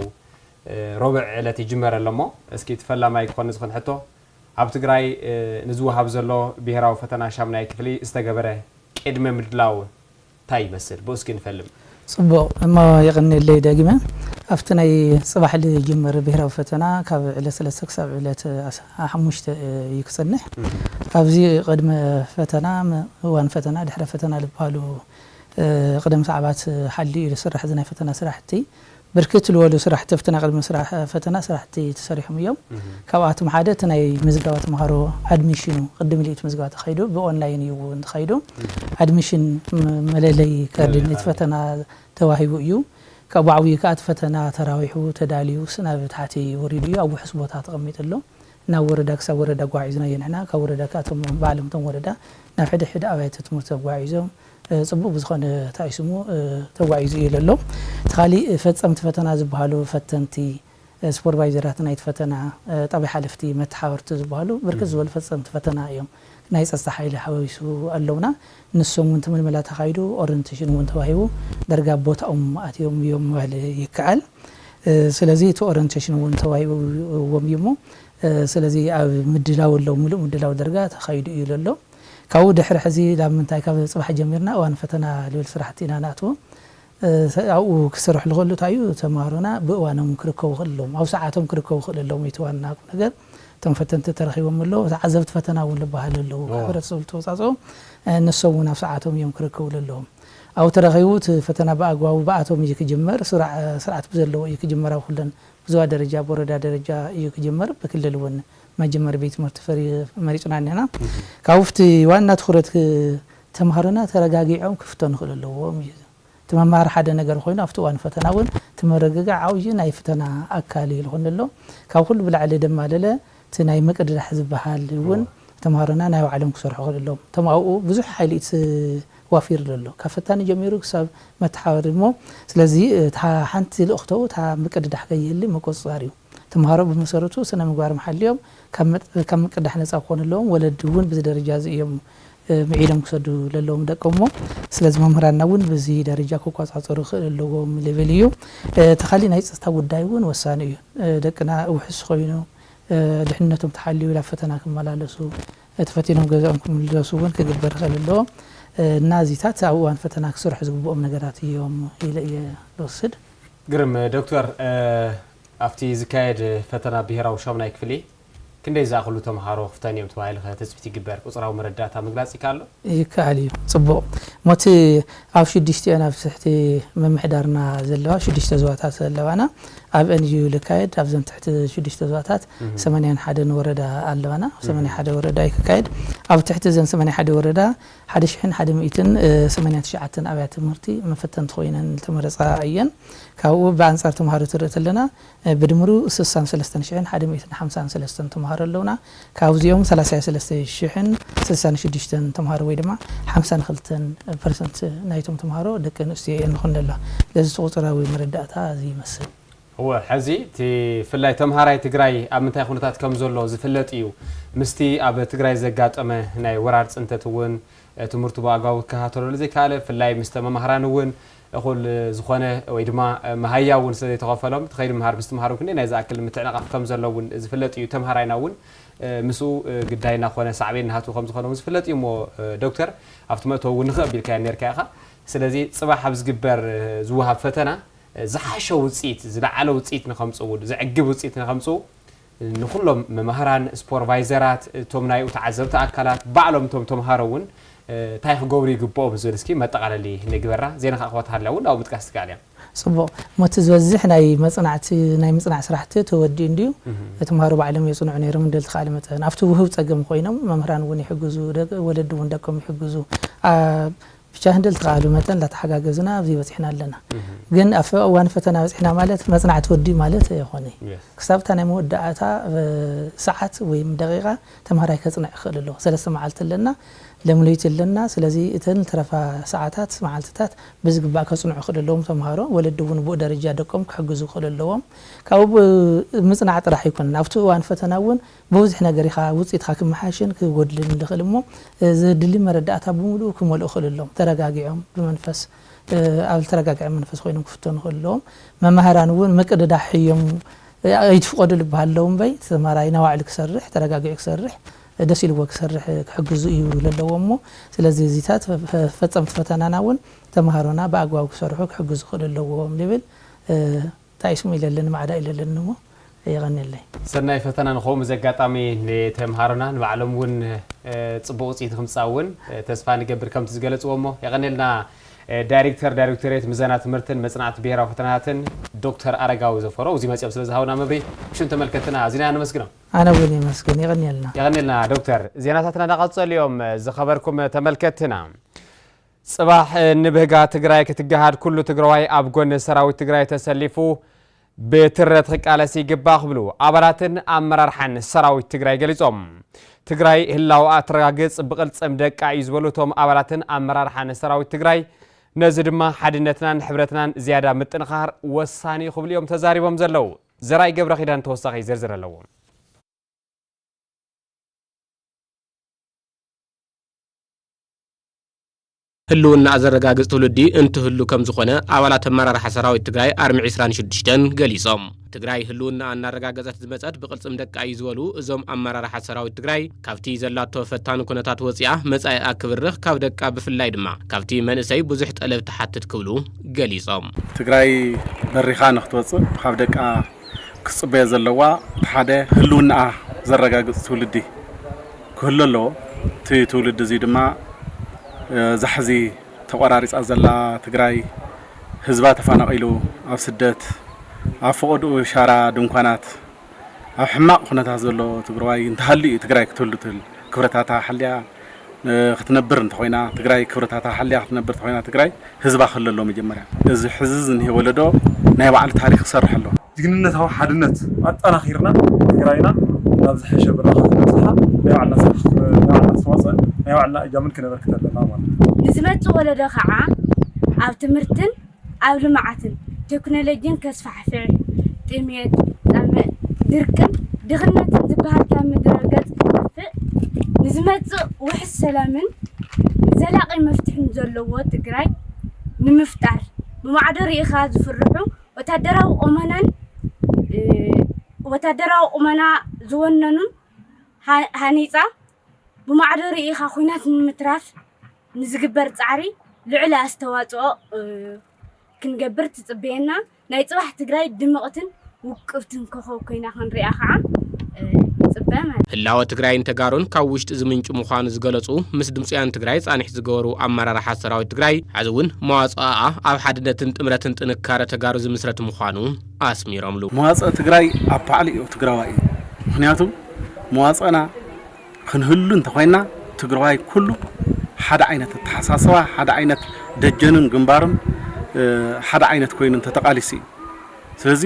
ሮብዕ ዕለት ይጅመር ኣለሞ እስኪ እቲ ፈላማይ ክኾን ዝኽን ሕቶ ኣብ ትግራይ ንዝወሃብ ዘሎ ብሄራዊ ፈተና ሻሙናይ ክፍሊ ዝተገበረ ቅድመ ምድላው ታይ ይመስል ብኡ እስኪ ንፈልም። ጽቡቕ እሞ የቐንየለይ ደጊመ ኣብቲ ናይ ጽባሕ ልጅመር ብሄራዊ ፈተና ካብ ዕለት ስለስተ ክሳብ ዕለት ሓሙሽተ እዩ ክጸንሕ ኣብዚ ቅድመ ፈተና እዋን ፈተና ድሕረ ፈተና ልብሃሉ ቅደም ሰዓባት ሓልዩ እዩ ልስራሕ እዚ ናይ ፈተና ስራሕቲ ብርክት ልበሉ ስራሕቲ ኣብቲ ቅድሚ ምስራሕ ፈተና ስራሕቲ ተሰሪሖም እዮም። ካብኣቶም ሓደ እቲ ናይ ምዝገባ ተምሃሮ ኣድሚሽኑ ቅድም ኢሉ እዩ እቲ ምዝገባ ተኻይዱ ብኦንላይን እዩ እውን ተኻይዱ። ኣድሚሽን መለለዪ ካርዲ ነቲ ፈተና ተዋሂቡ እዩ። ካብኡ ዓብዩ ከዓ እቲ ፈተና ተራዊሑ ተዳልዩ ናብ ታሕቲ ወሪዱ እዩ ኣብ ውሑስ ቦታ ተቐሚጡ ኣሎ። ናብ ወረዳ ክሳብ ወረዳ ኣጓዒዝናዮ ንሕና ካብ ወረዳ ከዓ እቶም ባዕሎም እቶም ወረዳ ናብ ሕድሕድ ኣብያተ ትምህርቲ ኣጓዒዞም ጽቡቅ ብዝኮነ ታይ እዩ ስሙ ተጓዒዙ እዩ ለሎ እቲ ካሊእ ፈጸምቲ ፈተና ዝብሃሉ ፈተንቲ ስፖርቫይዘራት ናይቲ ፈተና ጣብያ ሓለፍቲ መተሓበርቲ ዝብሃሉ ብርክት ዝበሉ ፈጸምቲ ፈተና እዮም ናይ ጸጽታ ሓይሊ ሓዋዊሱ ኣለውና ንሶም ውን ትምልመላ ተካይዱ ኦረንተሽን ውን ተዋሂቡ ደርጋ ኣብ ቦታኦም ኣትዮም እዮም ምባል ይከኣል ስለዚ እቲ ኦረንተሽን ውን ተዋሂብዎም እዩ እሞ ስለዚ ኣብ ምድላው ኣለዉ ምሉእ ምድላው ደርጋ ተካይዱ እዩ ለሎ። ካብኡ ድሕሪ ሕዚ ናብ ምንታይ ካብ ጽባሕ ጀሚርና እዋን ፈተና ልብል ስራሕቲ ኢና ንኣትዎ ኣብኡ ክስርሑ ዝኽእሉ እንታይ እዩ ተማሃሮና ብእዋኖም ክርከቡ ክኽእሉ ኣለዎም ኣብ ሰዓቶም ክርከቡ ክኽእሉ ኣለዎም እቲ ዋና ቁምነገር እቶም ፈተንቲ ተረኺቦም ኣለዉ ተዓዘብቲ ፈተና እውን ዝበሃሉ ኣለዉ ካብ ሕብረተሰብ ዝተወጻጽኡ ንሶም እውን ኣብ ሰዓቶም እዮም ክርከቡ ዘለዎም ኣብኡ ተረኺቡ እቲ ፈተና ብኣግባቡ ብኣቶም እዩ ክጅመር ስርዓት ብዘለዎ እዩ ክጅመር ኣብ ኩለን ብዞባ ደረጃ ብወረዳ ደረጃ እዩ ክጅመር ብክልል እውን መጀመሪ ቤት ትምህርቲ ፍሪ መሪጽና እኒሀና ካብኡ ፍቲ ዋና ትኹረት ተምሃሮና ተረጋጊዖም ክፍተኑ ክእሉ ኣለዎም እዩ እቲ መምሃሪ ሓደ ነገር ኮይኑ ኣብቲ እዋን ፈተና እውን እቲ ምርግጋዕ ዓብዪ ናይ ፍተና ኣካል እዩ ዝኾነ ኣሎ ካብ ኩሉ ብላዕሊ ድማ ለለ እቲ ናይ ምቅድዳሕ ዝበሃል እውን ተምሃሮና ናይ ባዕሎም ክሰርሑ ክእሉ ኣለዎም እቶም ኣብኡ ብዙሕ ሓይሊ ዋፊር ዘሎ ካብ ፈታኒ ጀሚሩ ክሳብ መተሓባሪ እሞ ስለዚ እታ ሓንቲ ልእኽተኡ እታ ምቅድዳሕ ከይህሊ ምቁፅፃር እዩ ተምሃሮ ብመሰረቱ ስነ ምግባርም ሓልዮም ካብ ምቅዳሕ ነፃ ክኾኑ ኣለዎም። ወለዲ እውን ብዚ ደረጃ እዚ እዮም ምዒሎም ክሰዱ ለለዎም ደቆም እሞ ስለዚ መምህራንና እውን ብዚ ደረጃ ክቆፃፀሩ ክእል ኣለዎም ልብል እዩ። እቲ ካሊእ ናይ ፅፅታ ጉዳይ እውን ወሳኒ እዩ። ደቅና ውሕስ ኮይኑ ድሕንነቶም ተሓልዩ ናብ ፈተና ክመላለሱ ተፈቲኖም ገዝኦም ክምለሱ እውን ክግበር ክእል ኣለዎ እና እዚታት ኣብ እዋን ፈተና ክስርሑ ዝግብኦም ነገራት እዮም ኢለ እየ ልወስድ። ግርም ዶክተር ኣብቲ ዝካየድ ፈተና ብሄራዊ ሻሙናይ ክፍሊ ክንደይ ዝኣኽሉ ተምሃሮ ክፍተኑ እዮም ተባሂሉ ከ ትፅቢት ይግበር? ቁፅራዊ መረዳእታ ምግላፅ ይከኣል ዶ? ይከኣል እዩ። ፅቡቕ። እሞ እቲ ኣብ ሽዱሽቲኤን ኣብ ትሕቲ ምምሕዳርና ዘለዋ ሽዱሽተ ዞባታት ኣለዋና። ኣብኤን እዩ ዝካየድ። ኣብዘን ትሕቲ ሽዱሽተ ዞባታት ሰማንያን ሓደን ወረዳ ኣለዋና። ኣብ ሰማንያ ሓደ ወረዳ እዩ ክካየድ። ኣብ ትሕቲ እዘን ሰማንያ ሓደ ወረዳ ሓደ ሽሕን ሓደ ሚእትን ሰማንያን ትሽዓተን ኣብያተ ትምህርቲ መፈተንቲ ኮይነን ዝተመረፃ እየን። ካብኡ ብኣንፃር ተምሃሮ ትርኢ ተለና ብድምሩ ስሳን ሰለስተን ሽሕን ሓደ ሚእትን ሓምሳን ሰለስተን ተምሃሮ ኣለውና። ካብዚኦም ሰላሳዮ ሰለስተ ሽሕን ስሳን ሽዱሽተን ተምሃሮ ወይ ድማ ሓምሳን ክልተን ፐርሰንት ናይቶም ተምሃሮ ደቂ ኣንስትዮ እየን ንኹነላ። ስለዚ እቲ ቁፅራዊ መረዳእታ እዚ ይመስል። እወ ሐዚ እቲ ፍላይ ተምሃራይ ትግራይ ኣብ ምንታይ ኹነታት ከምዘሎ ዝፍለጥ እዩ። ምስቲ ኣብ ትግራይ ዘጋጠመ ናይ ወራር ፅንተት እውን ትምህርቱ ብኣግባቡ ክከታተለሉ ዘይከኣለ ፍላይ ምስተ መማህራን እውን እኹል ዝኾነ ወይ ድማ መሃያ እውን ስለዘይተኸፈሎም ተኸይዱ ምምሃር ምስትምሃር እውን ክንደይናይ ዝኣክል ምትዕንቓፍ ከምዘሎ እውን ዝፍለጥ እዩ። ተምሃራይና እውን ምስኡ ግዳይ እናኾነ ሳዕቤን እናሃትዎ ከምዝኾነ እውን ዝፍለጥ እዩ እሞ ዶክተር ኣብቲ መእተዊ እውን ንኽእ ኣቢልካዮ ነይርካ ኢኻ ስለዚ ፅባሕ ኣብ ዝግበር ዝወሃብ ፈተና ዝሓሸ ውፅኢት፣ ዝለዓለ ውፅኢት ንከምፅኡ፣ ዘዕግብ ውፅኢት ንከምፅኡ ንኹሎም መማህራን፣ ስፖርቫይዘራት፣ እቶም ናይኡ ተዓዘብቲ ኣካላት፣ ባዕሎም እቶም ተምሃሮ እውን እንታይ ክገብሩ ይግበኦም ዝብል እስኪ መጠቓለሊ ንግበራ። ዜና ካዓ ክወት ሃሊያ እውን ናብኡ ምጥቃስ ትክኣል እያ። ፅቡቕ እሞ እቲ ዝበዝሕ ናይ መፅናዕቲ ናይ ምፅናዕ ስራሕቲ ተወዲኡ እንድዩ? ተምሃሮ ባዕሎም የፅንዑ ነይሮም እንዶ ልትክኣለ መጠን ኣብቲ ውህብ ፀገም ኮይኖም መምህራን እውን ይሕግዙ፣ ወለዲ እውን ደቆም ይሕግዙ፣ ኣብ ብቻ ህንደል ተኻእሉ መጠን እንዳተሓጋገዝና ኣብዚ በፂሕና ኣለና ግን ኣብ እዋን ፈተና በፂሕና ማለት መፅናዕቲ ወዲኡ ማለት ኣይኾነ ክሳብ እታ ናይ መወዳእታ ሰዓት ወይ ደቂቃ ተምሃራይ ከፅንዕ ይኽእል ኣሎ ሰለስተ መዓልቲ ኣለና ለም ለይቲ ኣለና ስለዚ እተን ዝተረፋ ሰዓታት መዓልትታት ብዝግባእ ከፅንዑ ይኽእል ኣለዎም ተምሃሮ ወለዲ እውን ብኡ ደረጃ ደቆም ክሕግዙ ይኽእል ኣለዎም ካብኡ ምፅናዕ ጥራሕ ኣይኮነን ኣብቲ እዋን ፈተና እውን ብብዙሕ ነገር ኢኻ ውጽኢትካ ክመሓየሽን ክጎድልን ልኽእል እሞ ዘድሊ መረዳእታ ብምሉኡ ክመልኡ ክእሉ ኣለዎም። ተረጋጊዖም ብመንፈስ ኣብ ዝተረጋግዐ መንፈስ ኮይኖም ክፍተኑ ክእሉ ኣለዎም። መማህራን እውን ምቅድዳሕ ሕዮም ኣይትፍቐዱ ልበሃል ኣለዉ እምበይ እቲ ተማሃራይ ናባዕሉ ክሰርሕ ተረጋጊዑ ክሰርሕ ደስ ኢልዎ ክሰርሕ ክሕግዙ እዩ ለለዎም እሞ ስለዚ እዚታት ፈጸምቲ ፈተናና እውን ተማሃሮና ብኣግባቡ ክሰርሑ ክሕግዙ ክእሉ ኣለዎም ልብል። ታይ ስሙ ኢለ ኣለኒ ማዕዳ ኢለ ኣለኒ እሞ የቀንየለይ። ሰናይ ፈተና ንከውን በዚ ኣጋጣሚ ንተምሃሮና ንባዕሎም ውን ፅቡቅ ውፅኢት ንክምፃእ ውን ተስፋ ንገብር ከምቲ ዝገለፅዎ እሞ የቀንየልና ዳይሪክተር ዳይሪክቶሬት ምዘና ትምህርትን መፅናዕቲ ብሄራዊ ፈተናታትን ዶክተር ኣረጋዊ ዘፈሮ እብዙይ መፂኦም ስለ ዝሃቡና መብርሂ ብሽም ተመልከትትና ኣዚና ኢና ነመስግኖም። ኣነ ውን የመስግን የቀንየልና። የቀንየልና ዶክተር። ዜናታትና እንዳቀፀሉ እዮም ዝኸበርኩም ተመልከትትና። ፅባሕ ንብህጋ ትግራይ ክትገሃድ ኩሉ ትግራዋይ ኣብ ጎኒ ሰራዊት ትግራይ ተሰሊፉ ብትረት ክቃለስ ይግባእ ክብሉ ኣባላትን ኣመራርሓን ሰራዊት ትግራይ ገሊፆም። ትግራይ ህላውኣ እትረጋግፅ ብቕልፅም ደቃ እዩ ዝበሉ እቶም ኣባላትን ኣመራርሓን ሰራዊት ትግራይ ነዚ ድማ ሓድነትናን ሕብረትናን ዝያዳ ምጥንኻር ወሳኒ ክብሉ እዮም ተዛሪቦም ዘለው። ዘርኣይ ገብረ ኪዳን ተወሳኺ ዝርዝር ኣለዎ። ህልውናኣ ዘረጋግፅ ትውልዲ እንትህሉ ከምዝኾነ ኣባላት ኣመራርሓ ሰራዊት ትግራይ ኣርሚ ዕስራን ሽዱሽተን ገሊፆም። ትግራይ ህልውናኣ እናረጋገፀት ዝመፀት ብቕልፅም ደቃ እዩ ዝበሉ እዞም ኣመራርሓ ሰራዊት ትግራይ፣ ካብቲ ዘላቶ ፈታኒ ኩነታት ወፂኣ መፃኢኣ ክብርኽ ካብ ደቃ ብፍላይ ድማ ካብቲ መንእሰይ ብዙሕ ጠለብ ትሓትት ክብሉ ገሊፆም። ትግራይ በሪኻ ንክትወፅእ ካብ ደቃ ክትፅበዮ ዘለዋ እቲ ሓደ ህልውናኣ ዘረጋግፅ ትውልዲ፣ ክህሉ ኣለዎ። እቲ ትውልዲ እዙይ ድማ እዛ ሕዚ ተቆራሪፃ ዘላ ትግራይ ህዝባ ተፋናቂሉ ኣብ ስደት ኣብ ፈቀድኡ ሻራ ድንኳናት ኣብ ሕማቅ ኩነታት ዘሎ ትግረዋይ እንተሃልዩ እዩ ትግራይ ክትህሉ ትህል ክብረታታ ሓልያ ክትነብር እንተኮይና ትግራይ ክብረታታ ሓልያ ክትነብር እንተኮይና ትግራይ ህዝባ ክህሉ ኣለዎ መጀመርያ እዚ ሕዚ ዝኒሀ ወለዶ ናይ ባዕሉ ታሪክ ክሰርሕ ኣለዎ። ጅግንነታዊ ሓድነት ኣጠናኺርና ትግራይና ናብ ዝሐሸ ብራኸ ክነብፅሓ ናይ ባዕልና ስራሕ ናይ ባዕልና ኣስተዋፅኦን ናይ ባዕልና እጃምን ክነበርክት ኣለና ማለት እዩ። ንዝመፅእ ወለዶ ከዓ ኣብ ትምህርትን ኣብ ልምዓትን ቴክኖሎጂን ከስፋሕፍሕ፣ ጥምየት፣ ፀምእ፣ ድርቅን ድኽነትን ዝበሃል ካብ ምድረ ገፅ ክጠፍእ፣ ንዝመፅእ ውሕስ ሰላምን ዘላቒ መፍትሒን ዘለዎ ትግራይ ንምፍጣር ብማዕዶ ርኢኻ ዝፍርሑ ወታደራዊ ቁመናን ወታደራዊ ቁመና ዝወነኑን ሃኒጻ ብማዕዶ ርኢኻ ኲናት ንምትራፍ ንዝግበር ጻዕሪ ልዑል ኣስተዋጽኦ ክንገብር ትጽበየና። ናይ ጽባሕ ትግራይ ድምቕትን ውቅብትን ኮኾብ ኮይና ክንሪኣ ከዓ ንፅበ ማለት እዩ። ህላወ ትግራይን ተጋሩን ካብ ውሽጢ ዝምንጩ ምዃኑ ዝገለፁ ምስ ድምፂ ወያነ ትግራይ ፃንሒት ዝገበሩ ኣመራርሓ ሰራዊት ትግራይ ሐዚ እውን መዋፅኣኣ ኣብ ሓድነትን ጥምረትን ጥንካረ ተጋሩ ዝምስረት ምዃኑ ኣስሚሮምሉ። መዋፅእ ትግራይ ኣብ ባዕሉ እዩ፣ ትግራዋይ እዩ። ምኽንያቱ መዋፅእና ክንህሉ እንተኾይንና ትግራዋይ ኩሉ ሓደ ዓይነት ኣተሓሳስባ፣ ሓደ ዓይነት ደጀኑን ግንባሩን ሓደ ዓይነት ኮይኑ እንተተቓሊሱ እዩ። ስለዚ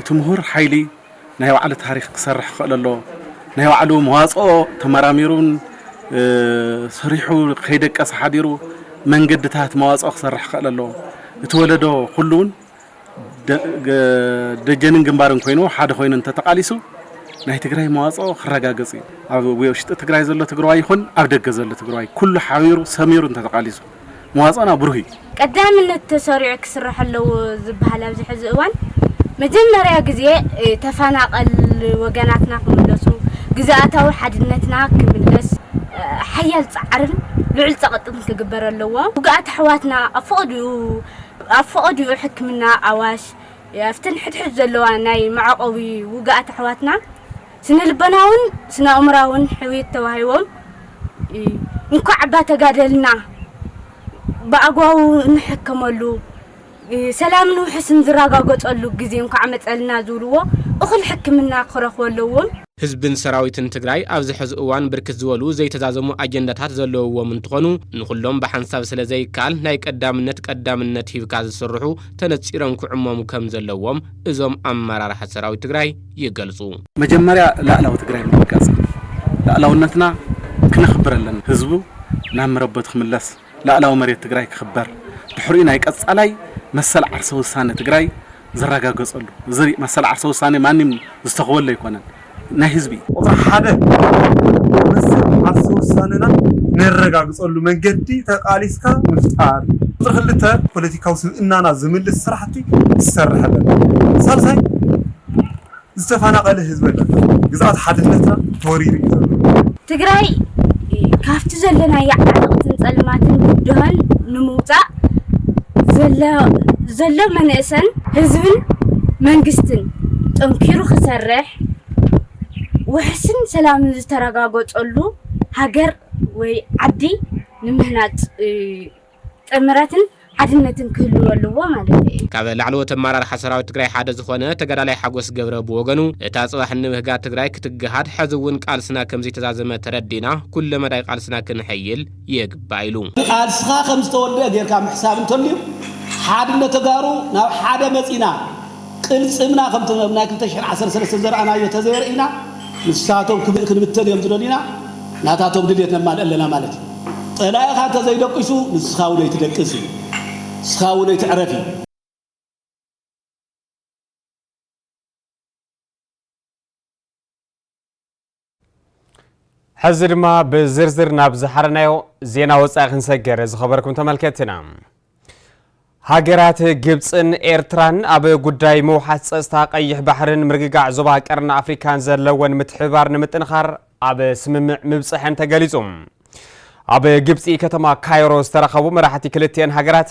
እቲ ምሁር ሓይሊ ናይ ባዕሉ ታሪኽ ክሰርሕ ክኽእል ኣለዎ። ናይ ባዕሉ መዋፅኦ ተመራሚሩን ሰሪሑ ከይደቀሰ ሓዲሩ መንገድታት መዋፅኦ ክሰርሕ ክኽእል ኣለዎ። እቲ ወለዶ ኩሉ እውን ደጀንን ግንባርን ኮይኑ ሓደ ኮይኑ እንተተቓሊሱ ናይ ትግራይ መዋፅኦ ክረጋገፅ እዩ። ኣብ ውሽጢ ትግራይ ዘሎ ትግራዋይ ይኹን ኣብ ደገ ዘሎ ትግራዋይ ኩሉ ሓቢሩ ሰሚሩ እንተተቓሊሱ። መዋጽኦና ብሩህ እዩ። ቀዳምነት ተሰሪዑ ክስራሕ ኣለዎ ዝበሃል ኣብዚ ሕዚ እዋን መጀመርያ ግዜ ተፈናቐል ወገናትና ክምለሱ፣ ግዝኣታዊ ሓድነትና ክምለስ ሓያል ጻዕርን ልዑል ጸቕጥን ክግበር ኣለዎ። ውጉኣት ኣሕዋትና ኣብ ፈቐድኡ ሕክምና ኣዋሽ ኣብተን ሕድሕድ ዘለዋ ናይ መዕቖቢ ውጉኣት ኣሕዋትና፣ ስነልቦናውን ስነኣእምራውን ሕውየት ተዋሂቦም እንኳዕ እባ ተጋደልና ብኣግባቡ እንሕከመሉ ሰላምን ውሕስን ዝረጋገፀሉ ግዜ እንኳዕ መፀልና ዝብልዎ እኹል ሕክምና ክረኽቡ ኣለዎም። ህዝብን ሰራዊትን ትግራይ ኣብዚ ሐዚ እዋን ብርክት ዝበሉ ዘይተዛዘሙ ኣጀንዳታት ዘለውዎም እንትኾኑ ንኹሎም ብሓንሳብ ስለዘይከኣል ናይ ቀዳምነት ቀዳምነት ሂብካ ዝስርሑ ተነፂሮም ክዕመሙ ከምዘለዎም እዞም ኣመራርሓ ሰራዊት ትግራይ ይገልፁ። መጀመርያ ላእላዊ ትግራይ ምርግጋፅ ላእላውነትና ክነኽብር ኣለና። ህዝቡ ናብ መረበቱ ክምለስ፣ ላእላዊ መሬት ትግራይ ክኽበር፣ ድሕሪኡ ናይ ቀፃላይ መሰል ዓርሰ ውሳነ ትግራይ ዝረጋገፀሉ፣ እዚ መሰል ዓርሰ ውሳነ ማንም ዝተኽወሉ ኣይኮነን ናይ ህዝቢ እዩ። ቁፅሪ ሓደ መሰል ዓርሰ ውሳነና ነረጋግፀሉ መንገዲ ተቓሊስካ ምፍጣር እዩ። ቁፅሪ ክልተ ፖለቲካዊ ስብእናና ዝምልስ ስራሕ ስራሕቲ ዝሰርሕ ኣሎ ኣሎ። ሳልሳይ ዝተፋናቀለ ህዝቢ ኣሎ ኣሎ። ግዝኣት ሓድነትና ተወሪሩ እዩ ዘሎ። ትግራይ ካብቲ ዘለናያ ዓዘቅትን ፀልማትን ብድሆን ንምውፃእ ዘሎ መነእሰን ህዝብን መንግስትን ጠንኪሩ ክሰርሕ ውሕስን ሰላምን ዝተረጋገፀሉ ሃገር ወይ ዓዲ ንምህናፅ እዩ። ጥምረትን ሓድነትን ክህልው ኣለዎ ማለተይ እዩ። ካብ ላዕለዎት ኣመራርሓ ሰራዊት ትግራይ ሓደ ዝኾነ ተጋዳላይ ሓጎስ ገብረ ብወገኑ፣ እታ ፅባሕ ንብህጋ ትግራይ ክትገሃድ ሐዚ እውን ቃልስና ከምዘይተዛዘመ ተረዲእና ኩለ መዳይ ቃልስና ክነሐይል ይግባእ ኢሉ። ቃልስኻ ከምዝተወደኣ ጌርካ ምሕሳብ እንተልዩ ሓድነት ተጋሩ ናብ ሓደ መፂና ቅልጽምና ከምቲ ኣብ ናይ ክልተ ሽሕን ዓሰርተ ሰለስተን ዘርኣናዮ ተዘየርእይና ንሳቶም ክብእ ክንብተን እዮም ዝደልዩና ናታቶም ድልየት ነማልእ ኣለና ማለት እዩ። ጸላኢኻ እንተዘይደቂሱ ንስኻ እውን ኣይትደቅስ እዩ። ንስኻ እውን ኣይትዕረፍ እዩ። ሕዚ ድማ ብዝርዝር ናብ ዝሓረናዮ ዜና ወፃኢ ክንሰገር ዝኸበርኩም ተመልከትና ሃገራት ግብፅን ኤርትራን ኣብ ጉዳይ ምውሓስ ፀፅታ ቀይሕ ባሕርን ምርግጋዕ ዞባ ቀርኒ ኣፍሪካን ዘለወን ምትሕብባር ንምጥንኻር ኣብ ስምምዕ ምብፅሐን ተገሊፁ ኣብ ግብፂ ከተማ ካይሮ ዝተረኸቡ መራሕቲ ክልትኤን ሃገራት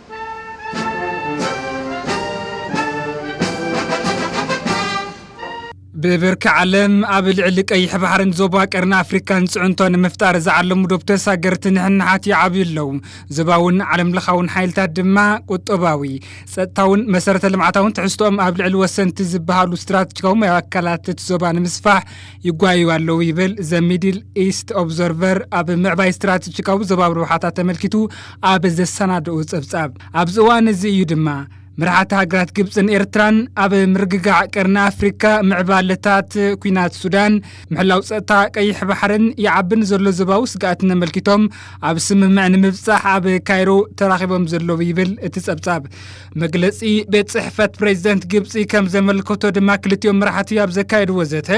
ብብርኪ ዓለም ኣብ ልዕሊ ቀይሕ ባሕርን ዞባ ቀርኒ ኣፍሪካን ፅዕንቶ ንምፍጣር ዝዓለሙ ዶብ ተሳገርቲ ንሕንሓት ይዓብዩ ኣለዉ ዞባውን ዓለም ለኻውን ሓይልታት ድማ ቁጠባዊ ፀጥታውን መሰረተ ልምዓታውን ትሕዝቶኦም ኣብ ልዕሊ ወሰንቲ ዝበሃሉ ስትራቴጂካዊ ኣካላት እቲ ዞባ ንምስፋሕ ይጓየዩ ኣለዉ ይብል ዘ ሚድል ኢስት ኦብዘርቨር ኣብ ምዕባይ ስትራቴጂካዊ ዞባዊ ረብሓታት ተመልኪቱ ኣብ ዘሰናደኡ ጸብጻብ ኣብዚ እዋን እዚ እዩ ድማ መራሕቲ ሃገራት ግብፅን ኤርትራን ኣብ ምርግጋዕ ቀርኒ ኣፍሪካ ምዕባለታት ኩናት ሱዳን ምሕላው ፀጥታ ቀይሕ ባሕርን ይዓቢ ንዘሎ ዞባዊ ስግኣትን ኣመልኪቶም ኣብ ስምምዕ ንምብፃሕ ኣብ ካይሮ ተራኺቦም ዘለዉ ይብል እቲ ጸብጻብ መግለጺ ቤት ጽሕፈት ፕሬዚደንት ግብጺ ከም ዘመልከቶ ድማ ክልቲኦም መራሕቲ ኣብ ዘካየድዎ ዘተ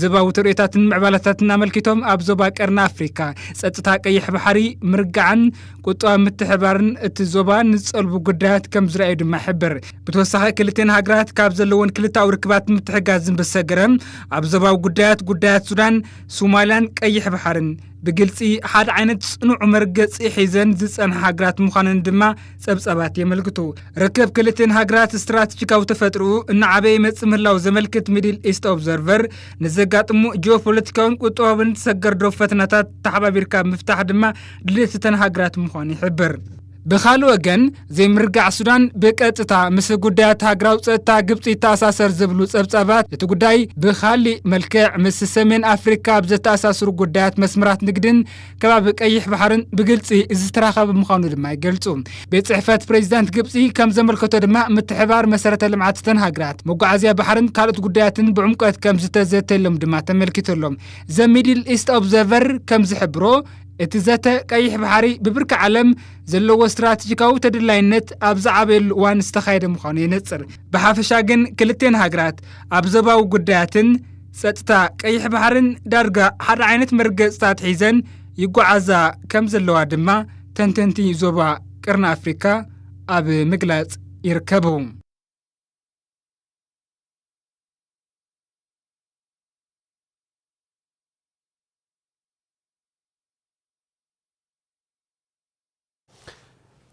ዞባዊ ትርኢታትን ምዕባለታትን ኣመልኪቶም ኣብ ዞባ ቀርኒ ኣፍሪካ ጸጥታ ቀይሕ ባሕሪ ምርጋዕን ቁጠባ ምትሕባርን እቲ ዞባ ንዝጸልቡ ጉዳያት ከም ዝረኣዩ ድማ ይሕብር። ብተወሳኺ ክልቲን ሃገራት ካብ ዘለወን ክልታዊ ርክባት ምትሕጋዝን ብዝሰገረ ኣብ ዞባዊ ጉዳያት ጉዳያት ሱዳን፣ ሶማሊያን ቀይሕ ባሕርን ብግልፂ ሓደ ዓይነት ፅኑዕ መርገፂ ሒዘን ዝፀንሓ ሃገራት ምዃነን ድማ ጸብጻባት የመልክቱ። ርክብ ክልቲን ሃገራት ስትራቴጂካዊ ተፈጥርኡ እናዓበየ ይመጽእ ምህላው ዘመልክት ሚድል ኢስት ኦብዘርቨር ንዘጋጥሙ ጂኦፖለቲካውን ቁጠባውን ሰገር ዶብ ፈተናታት ተሓባቢርካ ምፍታሕ ድማ ድሌት እተን ሃገራት ምዃኑ ይሕብር። ብኻልእ ወገን ዘይምርጋዕ ሱዳን ብቀጥታ ምስ ጉዳያት ሃገራዊ ጸጥታ ግብፂ ይተኣሳሰር ዝብሉ ጸብጻባት እቲ ጉዳይ ብኻሊእ መልክዕ ምስ ሰሜን ኣፍሪካ ኣብ ዘተኣሳስሩ ጉዳያት መስመራት ንግድን ከባቢ ቀይሕ ባሕርን ብግልፂ ዝተራኸበ ምዃኑ ድማ ይገልፁ። ቤት ፅሕፈት ፕሬዚዳንት ግብፂ ከም ዘመልከቶ ድማ ምትሕብባር መሰረተ ልምዓት እተን ሃገራት፣ መጓዓዝያ ባሕርን ካልኦት ጉዳያትን ብዕምቆት ከም ዝተዘተየሎም ድማ ተመልኪቱ ኣሎ። ዘ ሚድል ኢስት ኦብዘርቨር ከም ዝሕብሮ፣ እቲ ዘተ ቀይሕ ባሕሪ ብብርኪ ዓለም ዘለዎ ስትራቴጂካዊ ተደላይነት ኣብ ዝዓበየሉ እዋን ዝተኻየደ ምዃኑ የነፅር። ብሓፈሻ ግን ክልቴን ሃገራት ኣብ ዞባዊ ጉዳያትን፣ ጸጥታ ቀይሕ ባሕርን ዳርጋ ሓደ ዓይነት መርገጽታት ሒዘን ይጓዓዛ ከም ዘለዋ ድማ ተንተንቲ ዞባ ቅርኒ ኣፍሪካ ኣብ ምግላጽ ይርከቡ።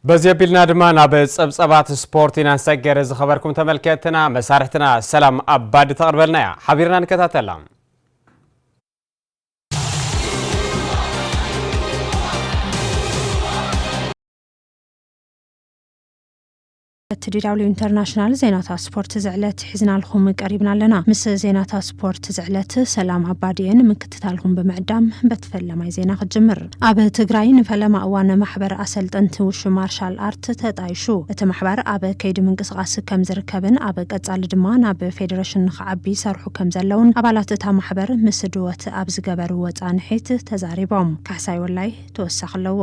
በዚ ኣቢልና ድማ ናብ ጸብጸባት ስፖርት ኢና ንሰገር። ዝኸበርኩም ተመልከትና መሳርሕትና ሰላም ኣባዲ ተቕርበልና እያ። ሓቢርና ንከታተላ። እቲ ዲዳብሊው ኢንተርናሽናል ዜናታት ስፖርት ዝዕለት ሒዝናልኹም ቀሪብና ኣለና ምስ ዜናታት ስፖርት ዝዕለት ሰላም ኣባድየ ንምክትታልኹም ብምዕዳም በቲ ፈለማይ ዜና ክጅምር ኣብ ትግራይ ንፈለማ እዋን ማሕበር ኣሰልጠንቲ ውሹ ማርሻል ኣርት ተጣይሹ እቲ ማሕበር ኣብ ከይዲ ምንቅስቃስ ከም ዝርከብን ኣብ ቀፃሊ ድማ ናብ ፌዴሬሽን ንክዓቢ ይሰርሑ ከም ዘለውን ኣባላት እታ ማሕበር ምስ ድወት ኣብ ዝገበርዎ ፃንሒት ተዛሪቦም ካሕሳይ ወላይ ተወሳኺ ኣለዎ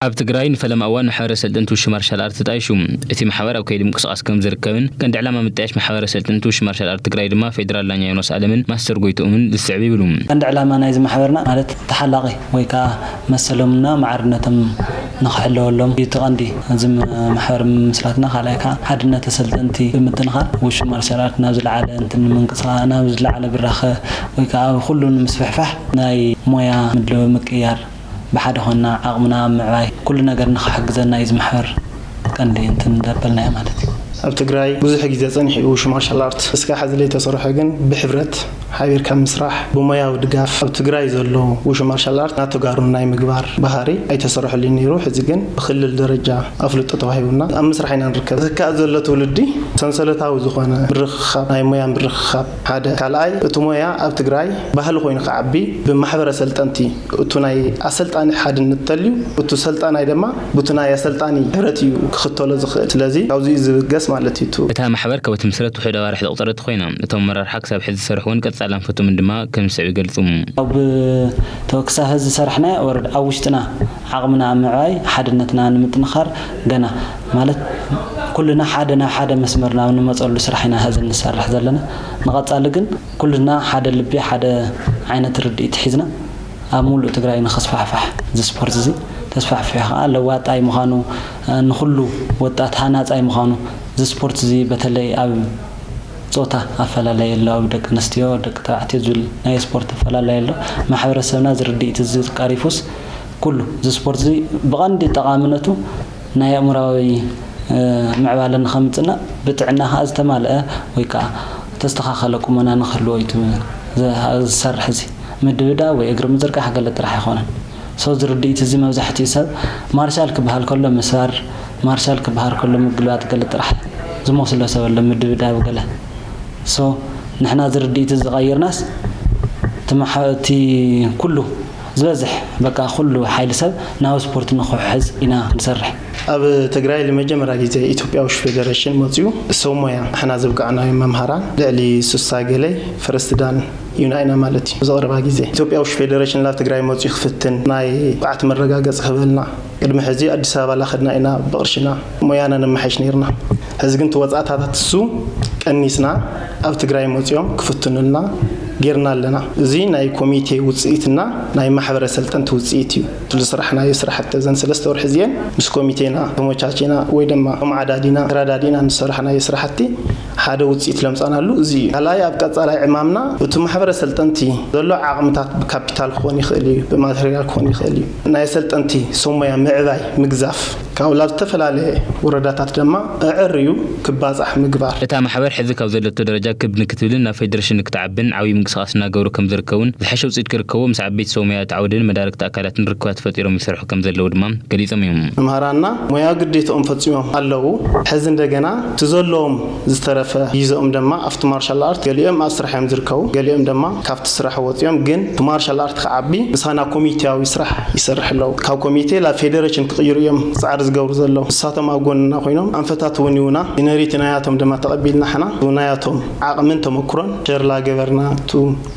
ኣብ ትግራይ ንፈለማ እዋን ማሕበረ ሰልጠንቲ ውሽብ ማርሻል ኣርት ተጣይሹ። እቲ ማሕበር ኣብ ከይዲ ምንቅስቓስ ከም ዝርከብን ቀንዲ ዕላማ ምጥያሽ ማሕበረ ሰልጠንቲ ውሽብ ማርሻል ኣርት ትግራይ ድማ ፌዴራል ዳኛ ዮናስ ኣለምን ማስተር ጎይትኦምን ዝስዕብ ይብሉ። ቀንዲ ዕላማ ናይዚ ማሕበርና ማለት ተሓላቒ ወይ ከዓ መሰሎምና ማዕርነቶም ንክሕለወሎም እዩ እቲ ቀንዲ እዚ ማሕበር ምምስራትና። ካልኣይ ከዓ ሓድነተ ሰልጠንቲ ብምጥንኻር ውሽብ ማርሻል ኣርት ናብ ዝለዓለ እንትን ንምንቅስቓ ናብ ዝለዓለ ብራኸ ወይ ከዓ ኣብ ኹሉ ንምስፍሕፋሕ ናይ ሞያ ምድለዊ ምቅይያር ብሓደ ኮና ዓቕምና ኣብ ምዕባይ ኩሉ ነገር ንኽሕግዘና እዩ ዝምሕር ቀንዲ እንትን እንዳበልናዮ ማለት እዩ። ኣብ ትግራይ ብዙሕ ግዜ ፀኒሑ እዩ ሽማርሻል ኣርት እስካብ ሐዚ ለይተሰርሖ ግን ብሕብረት ሓቢርካ ምስራሕ ብሞያዊ ድጋፍ ኣብ ትግራይ ዘሎ ውሹማርሻል ኣርት ናብ ተጋሩ ናይ ምግባር ባህሪ ኣይተሰረሐሉን ነይሩ ሕዚ ግን ብክልል ደረጃ ኣፍልጦ ተዋሂቡና ኣብ ምስራሕ ኢና ንርከብ ዝካኣል ዘሎ ትውልዲ ሰንሰለታዊ ዝኾነ ምርኽኻብ ናይ ሞያ ምርኽኻብ ሓደ ካልኣይ እቲ ሞያ ኣብ ትግራይ ባህሊ ኮይኑ ክዓቢ ብማሕበረ ሰልጠንቲ እቱ ናይ ኣሰልጣኒ ሓድንት ተልዩ እቱ ሰልጣናይ ደማ ቡቲ ናይ ኣሰልጣኒ ሕብረት እዩ ክክተሎ ዝክእል ስለዚ ካብዙ እዩ ዝብገስ ማለት እዩ እቱ እታ ማሕበር ካብ እትምስረት ውሑድ ኣዋርሕ ዘቑፀረት ኮይና እቶም ኣመራርሓ ክሳብ ሕዚ ዝሰርሑ እውን ቀፃሊ ኣንፈቶምን ድማ ከምዝስዕብ ይገልፁ። ኣብ ተወክሳ ህዝ ዝሰራሕናዮ ወረዳ ኣብ ውሽጥና ዓቕምና ኣብ ምዕባይ ሓድነትና ንምጥንኻር ገና ማለት ኩልና ሓደ ናብ ሓደ መስመር ናብ ንመፀሉ ስራሕ ኢና ሀዚ ንሰርሕ ዘለና። ንቐፃሊ ግን ኩልና ሓደ ልቢ ሓደ ዓይነት ርድኢት ሒዝና ኣብ ሙሉእ ትግራይ ንክስፋሕፋሕ እዚ ስፖርት እዚ ተስፋሕፊሑ ከዓ ለዋጣይ ምዃኑ ንኹሉ ወጣት ሃናፃይ ምዃኑ እዚ ስፖርት እዚ በተለይ ኣብ ፆታ ኣፈላላይ ኣሎ ኣብ ደቂ ኣንስትዮ ደቂ ተባዕትዮ ዝብል ናይ ስፖርት ኣፈላላይ ኣሎ ማሕበረሰብና እዚ ርድኢት እዚ ቀሪፉስ ኩሉ እዚ ስፖርትዚ ብቐንዲ ጠቓምነቱ ናይ ኣእምሮኣዊ ምዕባለ ንኸምጽእና ብጥዕና ከኣ ዝተማልአ ወይ ከኣ ተስተኻኸለ ቁመና ንክህልዎ እዩ ዝሰርሕ እዚ ምድብዳብ ወይ እግሪ ምዝርጋሕ ገለ ጥራሕ ኣይኮነን so እዚ ርድኢት እዚ መብዛሕትኡ ሰብ ማርሻል ክበሃል ከሎ ምሳር ማርሻል ክበሃል ከሎ ምግልባጥ ገለ ጥራሕ ዝመስሎ ሰብ ኣሎ ምድብዳብ ገለ so ንሕና እዚ ርድኢት እዚ ቀይርናስ እቲ ኩሉ ዝበዝሕ በቃ ኩሉ ሓይሊ ሰብ ናብ ስፖርት ንክውሕዝ ኢና ንሰርሕ። ኣብ ትግራይ ልመጀመርያ ግዜ ኢትዮጵያዊሽ ፌደረሽን መፅዩ ሰብ ሞያ ንሕና ዘብቃዕናዮም መምሃራን ልዕሊ ስሳ ገለይ ፈረስት ዳን ዩና ኢና ማለት እዩ። ብዝቀረባ ግዜ ኢትዮጵያዊሽ ፌደረሽን ላብ ትግራይ መፅዩ ክፍትን ናይ ብቅዓት መረጋገፂ ክህበልና። ቅድሚ ሕዚ ኣዲስ ኣበባ ላኸድና ኢና ብቕርሽና ሞያና ነማሐይሽ ነይርና ሕዚ ግን ትወጻእታታት እሱ ቀኒስና ኣብ ትግራይ መጺኦም ክፍትኑልና ገይርና ኣለና እዚ ናይ ኮሚቴ ውጽኢት እና ናይ ማሕበረ ሰልጠንቲ ውጽኢት እዩ እቲ ዝስራሕናዮ ስራሕቲ እዘን ሰለስተ ወርሒ እዚኤን ምስ ኮሚቴና ተሞቻቺና ወይ ደማ ተማዓዳዲና ተራዳዲና ንዝሰራሕናዮ ስራሕቲ ሓደ ውፅኢት ለምፃናሉ እዚ እዩ። ካልኣይ ኣብ ቀፃላይ ዕማምና እቱ ማሕበረ ኣሰልጠንቲ ዘሎ ዓቕምታት ብካፒታል ክኾን ይኽእል እዩ፣ ብማቴሪያል ክኾን ይኽእል እዩ፣ ናይ ኣሰልጠንቲ ሰብ ሞያ ምዕባይ፣ ምግዛፍ፣ ካብኡ ላብ ዝተፈላለየ ወረዳታት ደማ ኣዐርዩ ክባፃሕ ምግባር። እታ ማሕበር ሕዚ ካብ ዘለቶ ደረጃ ክብ ንክትብልን ናብ ፌዴሬሽን ንክትዓብን ዓብዪ ምንቅስቓስ እናገበሩ ከምዝርከቡን ዝሐሸ ውፅኢት ክርከቦ ምስ ዓበይቲ ሰብ ሞያ እቲ ዓውድን መዳርግቲ ኣካላትን ርክባት ፈጢሮም ይሰርሑ ይገብሩ ከምዘለዉ ድማ ገሊፆም እዮም። መምህራንና ሞያዊ ግዴትኦም ፈፂሞም ኣለዉ ሐዚ እንደገና እቲ ዘለዎም ዝተረፈ ጊዘኦም ደማ ኣፍቲ ማርሻል ኣርት ገሊኦም ኣብ ስራሕ እዮም ዝርከቡ ገሊኦም ደማ ካፍቲ ስራሕ ወፂኦም ግን እቲ ማርሻል ኣርት ክዓቢ ምሳና ኮሚቴያዊ ስራሕ ይሰርሕ ኣለዉ ካብ ኮሚቴ ላብ ፌደረሽን ክቅይሩ እዮም ፃዕሪ ዝገብሩ ዘለዉ ንሳቶም ኣብ ጎንና ኮይኖም ኣንፈታት እውን ይውና ይነሪቲ ናያቶም ደማ ተቀቢልና ሕና ብናያቶም ዓቅምን ተመኩሮን ሸርላ ገበርና እቱ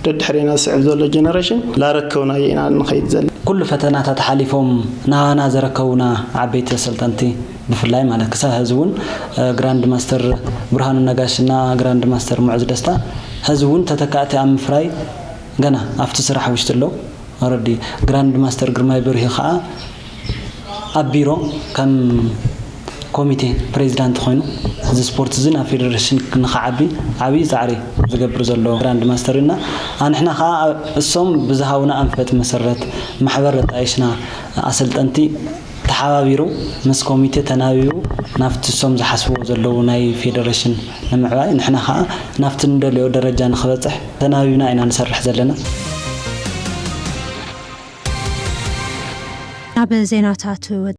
ደድሕሬና ዝስዕብ ዘሎ ጀነረሽን ላረከብናዮ ኢና ንኸይድ ዘለና። ኩሉ ፈተናታት ሓሊፎም ንሃና ዘረከቡና ዓበይቲ ኣሰልጠንቲ ብፍላይ ማለት ክሳብ ሐዚ እውን ግራንድ ማስተር ብርሃኑ ነጋሽ እና ግራንድ ማስተር ሙዑዝ ደስታ ሐዚ እውን ተተካእቲ ኣብ ምፍራይ ገና ኣብቲ ስራሕ ውሽጢ ኣለው። ኦረዲ ግራንድ ማስተር ግርማይ በርሂ ከዓ ኣብ ቢሮ ከም ኮሚቴ ፕሬዚዳንት ኾይኑ እዚ ስፖርት እዚ ናብ ፌዴሬሽን ንክዓቢ ዓብይ ፃዕሪ ዝገብር ዘሎ ግራንድ ማስተር እዩና ኣንሕና ከዓ እሶም ብዝሃቡና ኣንፈት መሰረት ማሕበር ኣጣይሽና ኣሰልጠንቲ ተሓባቢሩ ምስ ኮሚቴ ተናቢቡ ናብቲ እሶም ዝሓስብዎ ዘለዉ ናይ ፌዴሬሽን ንምዕባይ ንሕና ከዓ ናብቲ ንደልዮ ደረጃ ንክበፅሕ ተናቢብና ኢና ንሰርሕ ዘለና። ናብ ዜናታት